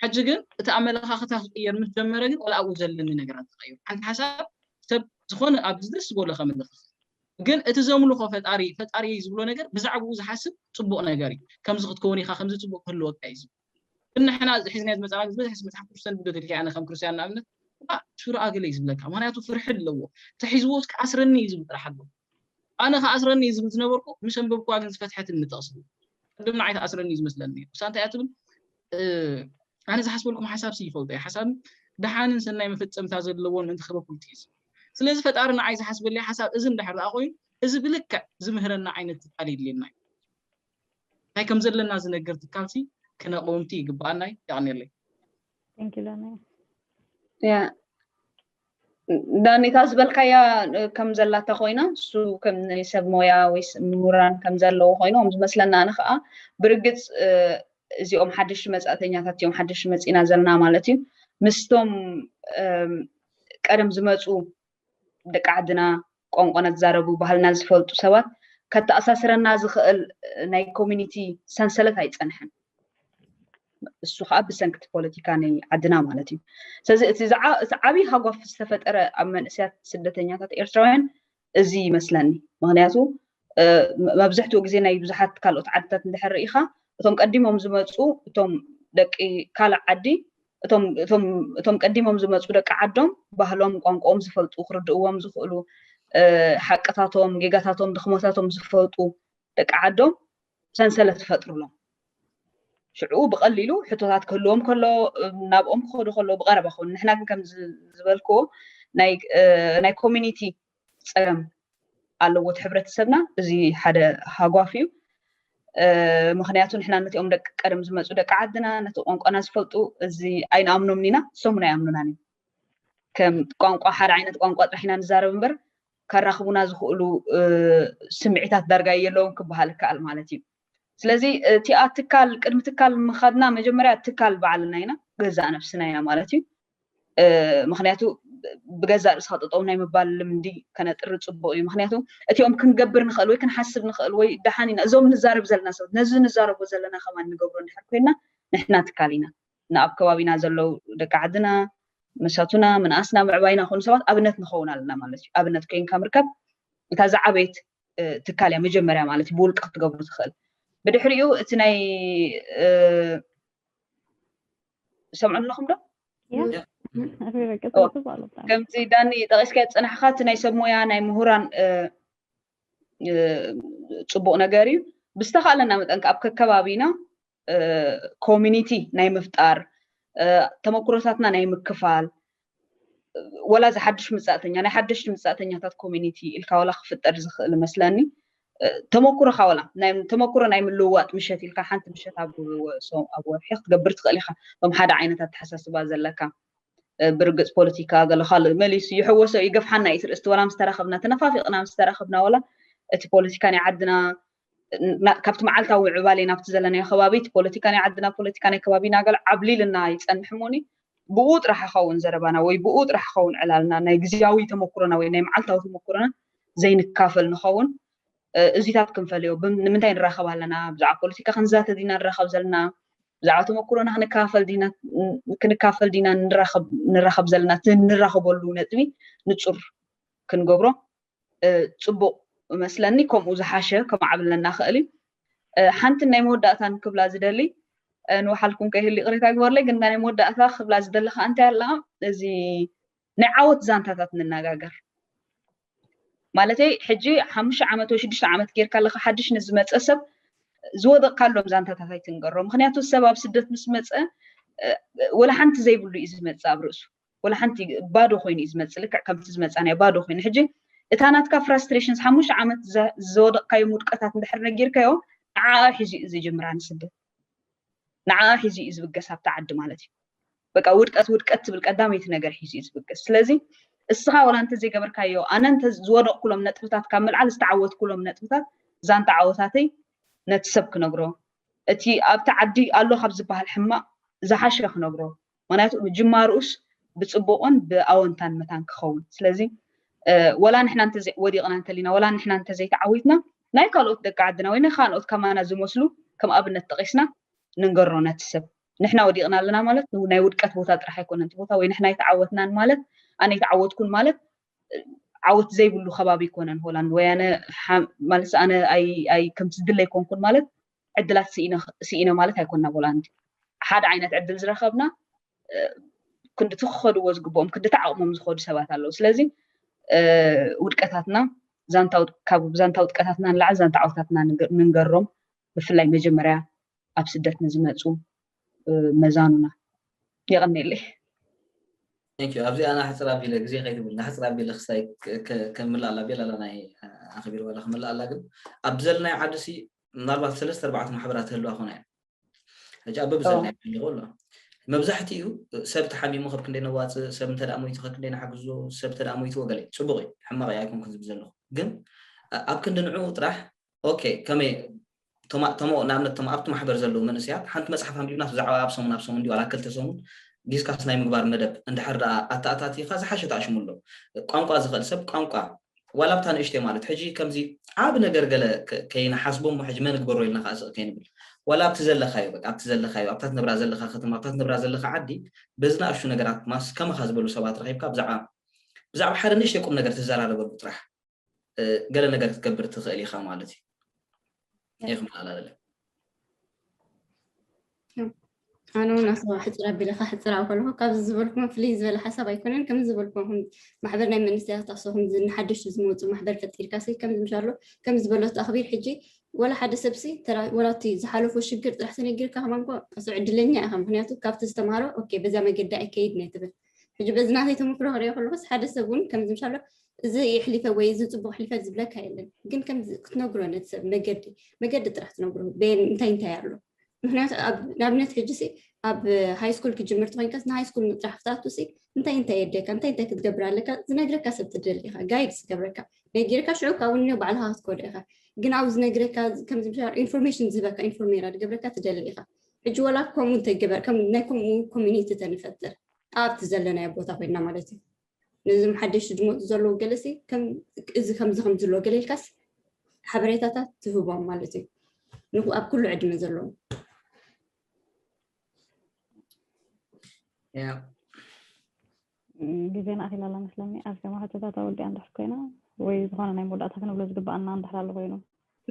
ሕጂ ግን እቲ ኣመለኻኽታ ክቕየር ምስ ጀመረ ግን ዋላ ኣብኡ ዘለኒ ነገራት ተቐይሩ። ሓንቲ ሓሳብ ሰብ ዝኾነ ኣብዚ ደስ ዝበሎ ከምልኽ ይኽእል። ግን እቲ ዘምልኾ ፈጣሪ ፈጣሪየይ ዝብሎ ነገር ብዛዕብኡ ዝሓስብ ጽቡቕ ነገር እዩ። ከምዚ ክትከውን ኢኻ ከምዚ ጽቡቕ ክህልወካ እዩ ዝብል። ግን ንሕና እዚ ሒዝናዮ ዝመጻና ግን ዝበዝሐ ሰብ መጽሓፍ ቅዱስ ተንብብ ዶ ትብልኪ ኣነ ከም ክርስትያን ንኣብነት እባ ሽሮ ኣግለይ ዝብለካ ምኽንያቱ ፍርሒ ኣለዎ ተሒዝዎስ ክኣስረኒ እዩ ዝብል ጥራሕ ኣለዎ። ኣነ ክኣስረኒ እዩ ዝብል ዝነበርኩ ምስ ኣንበብክዋ ግን ዝፈትሐትኒ ጥቕሲ እዩ ቅድም ንዓይ ትኣስረኒ እዩ ዝመስለኒ ነይሩ እሳ እንታይ እያ ትብል ኣነ ዝሓስበልኩም ሓሳብ ሲ ይፈልጦ እዩ ሓሳብ ደሓንን ሰናይ መፈጸምታ ዘለዎን ምእንቲ ክበኩልቲ እዩ ዝብል ስለዚ ፈጣሪ ንዓይ ዝሓስበለይ ሓሳብ እዚ እንድሕር ደኣ ኮይኑ እዚ ብልክዕ ዝምህረና ዓይነት ትካል የድልየና እዩ እንታይ ከም ዘለና ዝነገር ትካልሲ ክነቕውምቲ ይግብኣና እዩ የቕንየለይ
ያ
ዳኒ እታ ዝበልካያ ከም ዘላታ ኮይና እሱ ከም ናይ ሰብ ሞያ ወይ ምሁራን ከም ዘለዎ ኮይኑ ከም ዝመስለና ኣነ ከዓ ብርግፅ እዚኦም ሓደሽቲ መፃእተኛታት እዮም ሓደሽቲ መፂና ዘለና ማለት እዩ ምስቶም ቀደም ዝመፁ ደቂ ዓድና ቋንቋና ዝዛረቡ ባህልና ዝፈልጡ ሰባት ከተኣሳስረና ዝኽእል ናይ ኮሚኒቲ ሰንሰለት ኣይፀንሐን። እሱ ከዓ ብሰንክቲ ፖለቲካ ናይ ዓድና ማለት እዩ ስለዚ እቲ እቲ ዓብይ ሃጓፍ ዝተፈጠረ ኣብ መንእሰያት ስደተኛታት ኤርትራውያን እዚ ይመስለኒ ምክንያቱ መብዝሕትኡ ግዜ ናይ ብዙሓት ካልኦት ዓድታት እንድሕር ርኢኻ እቶም ቀዲሞም ዝመፁ እቶም ደቂ ካልእ ዓዲ እቶም ቀዲሞም ዝመፁ ደቂ ዓዶም ባህሎም ቋንቋኦም ዝፈልጡ ክርድእዎም ዝኽእሉ ሓቅታቶም ጌጋታቶም ድኽመታቶም ዝፈልጡ ደቂ ዓዶም ሰንሰለት ይፈጥሩሎም ሽዑ ብቐሊሉ ሕቶታት ክህልዎም ከሎ ናብኦም ክኸዱ ከሎ ብቐረባ ክኾኑ ንሕና ግን ከም ዝበልክዎ ናይ ኮሚኒቲ ፀገም ኣለዎ እቲ ሕብረተሰብና እዚ ሓደ ሃጓፍ እዩ። ምክንያቱ ንሕና ነቲኦም ደቂ ቀደም ዝመፁ ደቂ ዓድና ነቲ ቋንቋና ዝፈልጡ እዚ ኣይንኣምኖምን ኢና እሶም እውን ኣይኣምኑናን እዮም ከም ቋንቋ ሓደ ዓይነት ቋንቋ ጥራሕ ኢና ንዛረብ እምበር ከራኽቡና ዝኽእሉ ስምዒታት ዳርጋ የለዎም ክበሃል ይከኣል ማለት እዩ ስለዚ እቲኣ ትካል ቅድሚ ትካል ምኻድና መጀመርያ ትካል ባዕልና ኢና ገዛእ ነብስና ኢና ማለት እዩ ምክንያቱ ብገዛእ ርእስካ ጠጠው ናይ ምባል ልምዲ ከነጥሪ ፅቡቅ እዩ ምክንያቱ እቲኦም ክንገብር ንኽእል ወይ ክንሓስብ ንኽእል ወይ ደሓን ኢና እዞም ንዛረብ ዘለና ሰባት ነዚ ንዛረቦ ዘለና ከማን ንገብሮ እንድሕር ኮይና ንሕና ትካል ኢና ንኣብ ከባቢና ዘለው ደቂ ዓድና መሳቱና ምንኣስና ምዕባይና ኮኑ ሰባት ኣብነት ንኸውን ኣለና ማለት እዩ ኣብነት ኮይንካ ምርከብ እታ ዝዓበየት ትካል እያ መጀመርያ ማለት እዩ ብውልቂ ክትገብሩ ትኽእል ብድሕሪኡ እቲ ናይ ሰምዑ ኣለኹም ዶ ከምቲ ዳኒ ጠቂስካዮ ፅናሕካ እቲ ናይ ሰብ ሞያ ናይ ምሁራን ፅቡቅ ነገር እዩ ብዝተካለና መጠን ኣብ ከከባቢና ኮሚኒቲ ናይ ምፍጣር ተመክሮታትና ናይ ምክፋል ወላ እዚ ሓድሽ ምፃእተኛ ናይ ሓደሽቲ ምፃእተኛታት ኮሚኒቲ ኢልካ ወላ ክፍጠር ዝኽእል መስለኒ ተመኩሮኻ ወላ ተመኩሮ ናይ ምልውዋጥ ምሸት ኢልካ ሓንቲ ምሸት ኣብ ወርሒ ክትገብር ትኽእል ኢኻ ቶም ሓደ ዓይነት ኣተሓሳስባ ዘለካ ብርግፅ ፖለቲካ ገለ ካልእ መሊሱ ይሕወሶ ይገፍሓና እዩ እቲ ርእስቲ ወላ ምስ ተራኸብና ተነፋፊቕና ምስ ተራኸብና ወላ እቲ ፖለቲካ ናይ ዓድና ካብቲ መዓልታዊ ምዕባሌ ናብቲ ዘለናዮ ከባቢ እቲ ፖለቲካ ናይ ዓድና ፖለቲካ ናይ ከባቢና ገለ ዓብሊልና ይጸንሕ እሞኒ ብኡ ጥራሕ ይኸውን ዘረባና ወይ ብኡ ጥራሕ ይኸውን ዕላልና ናይ ግዜያዊ ተመኩሮና ወይ ናይ መዓልታዊ ተመኩሮና ዘይንካፈል ንኸውን እዚታት ክንፈልዮ ንምንታይ ንራኸብ ኣለና ብዛዕባ ፖለቲካ ክንዛተ ዲና ንራኸብ ዘለና ብዛዕባ ተመኩሮና ክንካፈል ዲና ክንካፈል ዲና ንራኸብ ዘለና እቲ ንራኸበሉ ነጥቢ ንጹር ክንገብሮ ጽቡቅ እመስለኒ ከምኡ ዝሓሸ ከማዕብለና ክእል እዩ ሓንትን ናይ መወዳእታን ክብላ ዝደሊ ንውሓልኩም ከይህሉ ይቅሬታ ይግበርለይ ግን ናይ መወዳእታ ክብላ ዝደሊ ከዓ እንታይ ኣላ እዚ ናይ ዓወት ዛንታታት ንነጋገር ማለተይ ሕጂ ሓሙሽተ ዓመት ወይ ሽዱሽተ ዓመት ጌርካ ኣለካ ሓድሽ ንዝመፀ ሰብ ዝወደቕካሎም ዛንታታት ኣይትንገሮ ምክንያቱ ሰብ ኣብ ስደት ምስ መፀ ወላ ሓንቲ ዘይብሉ እዩ ዝመፅእ ኣብ ርእሱ ወላ ሓንቲ ባዶ ኮይኑ እዩ ዝመፅእ ልክዕ ከምቲ ዝመፃናዮ ባዶ ኮይኑ ሕጂ እታ ናትካ ፍራስትሬሽንስ ሓሙሽተ ዓመት ዘወደቕካዮም ውድቀታት እንድሕር ነጊርካዮ ንዓኣ ሒዙ እዩ ዝጅምራ ንስደት ንዓኣ ሒዙ እዩ ዝብገስ ኣብቲ ዓዲ ማለት እዩ በቃ ውድቀት ውድቀት ትብል ቀዳመይቲ ነገር ሒዙ እዩ ዝብገስ ስለዚ እስኻ ወላ እንተዘይገበርካዮ ኣነ እንተ ዝወደቕኩሎም ነጥብታት ካብ ምልዓል ዝተዓወትኩሎም ነጥብታት ዛንታ ዓወታተይ ነቲ ሰብ ክነግሮ እቲ ኣብቲ ዓዲ ኣሎ ካብ ዝበሃል ሕማቕ ዝሓሸ ክነግሮ ምክንያቱ ጅማርኡስ ብጽቡቕን ብኣወንታን መታን ክኸውን ስለዚ ወላ ንሕና እንተ ወዲቕና እንተሊና ወላ ንሕና እንተ ዘይተዓዊትና ናይ ካልኦት ደቂ ዓድና ወይ ናይ ካልኦት ከማና ዝመስሉ ከም ኣብነት ጠቒስና ንንገሮ ነቲ ሰብ ንሕና ወዲቕና ኣለና ማለት ናይ ውድቀት ቦታ ጥራሕ ኣይኮነን እቲ ቦታ ወይ ንሕና ኣይተዓወትናን ማለት ኣነ ኣይተዓወትኩን ማለት ዓወት ዘይብሉ ከባቢ ይኮነን ሆላንድ ወያነ ማለት ኣነ ከምቲ ዝድለ ኣይኮንኩን ማለት ዕድላት ስኢነ ማለት ኣይኮና ቦላንድ ሓደ ዓይነት ዕድል ዝረከብና ክንዲቲ ክኸድዎ ዝግብኦም ክንዲቲ ዓቕሞም ዝኸዱ ሰባት ኣለዉ ስለዚ ውድቀታትና ካብ ዛንታ ውድቀታትና ንላዕሊ ዛንታ ዓወታትና ንንገሮም ብፍላይ መጀመርያ ኣብ ስደት ንዝመፁ መዛኑና የቐኒየለይ
ኣብዚ ኣና ሕፅር ኣቢለ ግዜ ከይትብል ንሕፅር ኣቢለ ክስታይ ከምላእ ኣላ ቤላ ኣላ ናይ ኣኸቢር ዋላ ክምላእ ኣላ ግን ኣብ ዘለናይ ዓዲ ሲ ምናልባት ሰለስተ ኣርባዕተ ማሕበራት ህልዋ ኮና እየን ሕጂ ኣብ በብዘለናዮ ኣለኹ ኣሎ መብዛሕትኡ ሰብ ተሓሚሙ ከብ ክንደይ ነዋፅእ ሰብ እንተ ሞይቱ ከብ ክንደይ ንሓግዞ ሰብ እንተ ሞይትዎ ገለ ፅቡቕ እዩ ሕማቕ እዩ ኣይኮንኩን ዝብል ዘለኹ ግን ኣብ ክንዲ ንዕኡ ጥራሕ ኦኬ ከመይ ተሞ ንኣብነት ተሞ ኣብቲ ማሕበር ዘለዉ መንእስያት ሓንቲ መፅሓፍ ኣንቢብና ብዛዕባ ኣብ ሰሙን ኣብ ሰሙን ዲ ዋላ ክልተ ሰሙን ዲስካስ ናይ ምግባር መደብ እንድሕር ደኣ ኣተኣታቲኻ ዝሓሸ ተኣሽሙ ኣሎ ቋንቋ ዝኽእል ሰብ ቋንቋ ዋላ ኣብታ ንእሽተይ ማለት ሕጂ ከምዚ ዓቢ ነገር ገለ ከይንሓስቦ እሞ ሕጂ መን እግበሮ ኢልና ከኣ ስቅ ከይንብል ዋላ ኣብቲ ዘለካዮ በቃ ኣብቲ ዘለካዮ ኣብታ ትነብራ ዘለካ ከተማ ኣብታ ትነብራ ዘለካ ዓዲ በዚ ንኣሽቱ ነገራት ማስ ከማካ ዝበሉ ሰባት ረኪብካ ብዛዕባ ብዛዕባ ሓደ ንእሽተይ ቁም ነገር ትዘራረበሉ ጥራሕ ገለ ነገር ክትገብር ትክእል ኢካ ማለት እዩ።
እየ ክመሃላለለ ኣነ እውን ኣስባ ሕፅር ኣቢለካ ሕፅር ኣብ ከለኩ ካብዚ ዝበልኩም ፍልይ ዝበለ ሓሳብ ኣይኮነን ከምዚ ዝበልኩም ማሕበር ናይ መንእሰያት ኣሶ ከምዚ ንሓደሽቲ ዝመፁ ማሕበር ፈጢርካ ሲ ከምዚ ምሻሎ ከም ዝበለቶ ኣኽቢር ሕጂ ወላ ሓደ ሰብሲ ወላ እቲ ዝሓለፎ ሽግር ጥራሕ ተነጊርካ ከማን ኮ ዕድለኛ ኢኻ ምክንያቱ ካብቲ ዝተምሃሮ ኦኬ በዛ መገዲ ኣይከይድ ናይ ትብል ሕጂ በዚ ናተይ ተመክሮ ክሪኦ ከለኹስ ሓደ ሰብ እውን ከምዚ ምሻሎ እዚ የሕሊፈ ወይ እዚ ፅቡቅ ሕሊፈ ዝብለካ የለን ግን ከምዚ ክትነግሮ ነቲ ሰብ መገዲ መገዲ ጥራሕ ትነግሮ ቤን እንታይ እንታይ ኣሎ ምክንያቱ ንኣብነት ሕጂ ሲ ኣብ ሃይ ስኩል ክጅምር ተኮይንካስ ንሃይ ስኩል ምጥራሕ ክትኣቱ ሲ እንታይ እንታይ የድልየካ እንታይ እንታይ ክትገብር ኣለካ ዝነግረካ ሰብ ትደሊ ኢካ ጋይድ ዝገብረካ ነጊርካ ሽዑ ካብኡ ኒ ባዕልካ ክትኮዶ ኢካ ግን ኣብ ዝነግረካ ከምዚ ምሻ ኢንፎርሜሽን ዝህበካ ኢንፎርሜራ ዝገብረካ ትደሊ ኢካ ሕጂ ወላ ከምኡ እንተገበር ከም ናይ ከምኡ ኮሚኒቲ ተንፈጥር ኣብቲ ዘለናዮ ቦታ ኮይና ማለት እዩ ነዞም ሓደሽቲ ዝመፁ ዘለዉ ገለሲ እዚ ከምዚ ከምዚ ኣሎ ገለ ኢልካስ ሓበሬታታት ትህቦም ማለት እዩ ኣብ ኩሉ ዕድመ ዘለዎም
ግዜና ኣኺሉ ኣላ መስለኒ ኣብ ከማ ሕቶታታ ወዲኣ እንድሕር ኮይና ወይ ዝኾነ ናይ መወዳእታ ክንብሎ ዝግባኣና እንድሕር ኣሎ ኮይኑ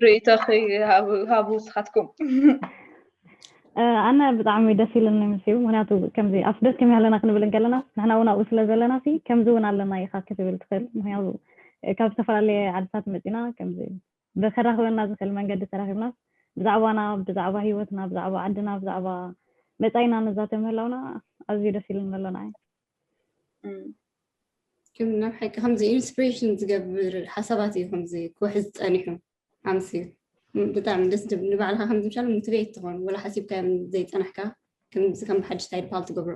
ርእይቶኺ
ሃቡ ንስኻትኩም
ኣነ ብጣዕሚ ደስ ኢሉኒ ምስ ምክንያቱ ከምዚ ኣብ ስደት ከመይ ኣለና ክንብል እንከለና ንሕና እውን ኣብኡ ስለ ዘለና ሲ ከምዚ እውን ኣለና ኢኻ ክትብል ትኽእል ምክንያቱ ካብ ዝተፈላለየ ዓድታት መፂና ከምዚ ከራኽበና ዝኽእል መንገዲ ተራኺብናስ ብዛዕባና፣ ብዛዕባ ህይወትና፣ ብዛዕባ ዓድና፣ ብዛዕባ መጻኢና ንዛተ ምህላውና ኣዝዩ ደስ ኢሉኒ ኣሎ ንዓይ።
ከም ናብ ሓቂ ከምዚ ኢንስፒሬሽን ዝገብር ሓሳባት እዩ ከምዚ ክውሕዝ ጸኒሑ ኣምስዩ ብጣዕሚ ደስ ድብል ንባዕልካ ከምዚ ምሻል ሞቲቬት ትኾን ወላ ሓሲብካ ዘይጸናሕካ ከምዚ ከም ሓድሽ ታይድ ፓል ትገብሮ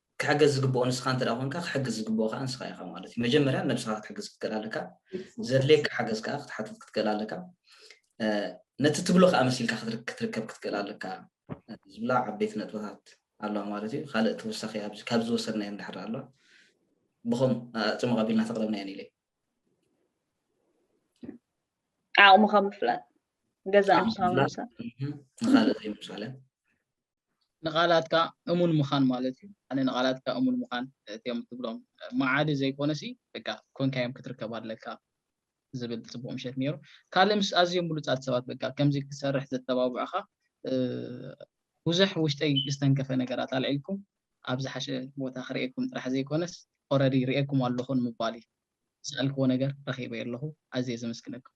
ክሕገዝ ዝግብኦ ንስኻ እንተ ኮንካ ክሕግዝ ዝግብኦ ከኣ ንስኻ ኢኻ ማለት እዩ መጀመርያ ነብስኻ ክትሕግዝ ክትክእል ኣለካ ዘድልየካ ሓገዝ ከኣ ክትሓትት ክትክእል ኣለካ ነቲ ትብሎ ከኣ መሲልካ ክትርከብ ክትክእል ኣለካ ዝብላ ዓበይቲ ነጥብታት ኣለዋ ማለት እዩ ካልእ ተወሳኺ ኣብዚ ካብ ዝወሰድናዮ እንድሕር ኣሎ ብኸም ፅሙቕ ኣቢልና ተቕረብናየን ኢለ ዓቕምኻ
ምፍላጥ ገዛ ንኻልእ
ዘይምሳለ
ንቓላትካ እሙን ምኻን ማለት እዩ ኣነ ንቓላትካ እሙን ምኻን እትዮም ትብሎም መዓዲ ዘይኮነሲ በቃ ኮንካዮም ክትርከብ ኣለካ ዝብል ጽቡቕ ምሸት ነይሩ ካልእ ምስ ኣዝዮም ብሉጻት ሰባት በቃ ከምዚ ክሰርሕ ዘተባብዑኻ ብዙሕ ውሽጠይ ዝተንከፈ ነገራት ኣልዒልኩም ኣብ ዝሓሸ ቦታ ክርእየኩም ጥራሕ ዘይኮነስ ኦረዲ ርእየኩም ኣለኹ ንምባል እዩ ዝሰኣልክዎ ነገር ረኺበዮ ኣለኹ ኣዝየ ዘመስግነኩም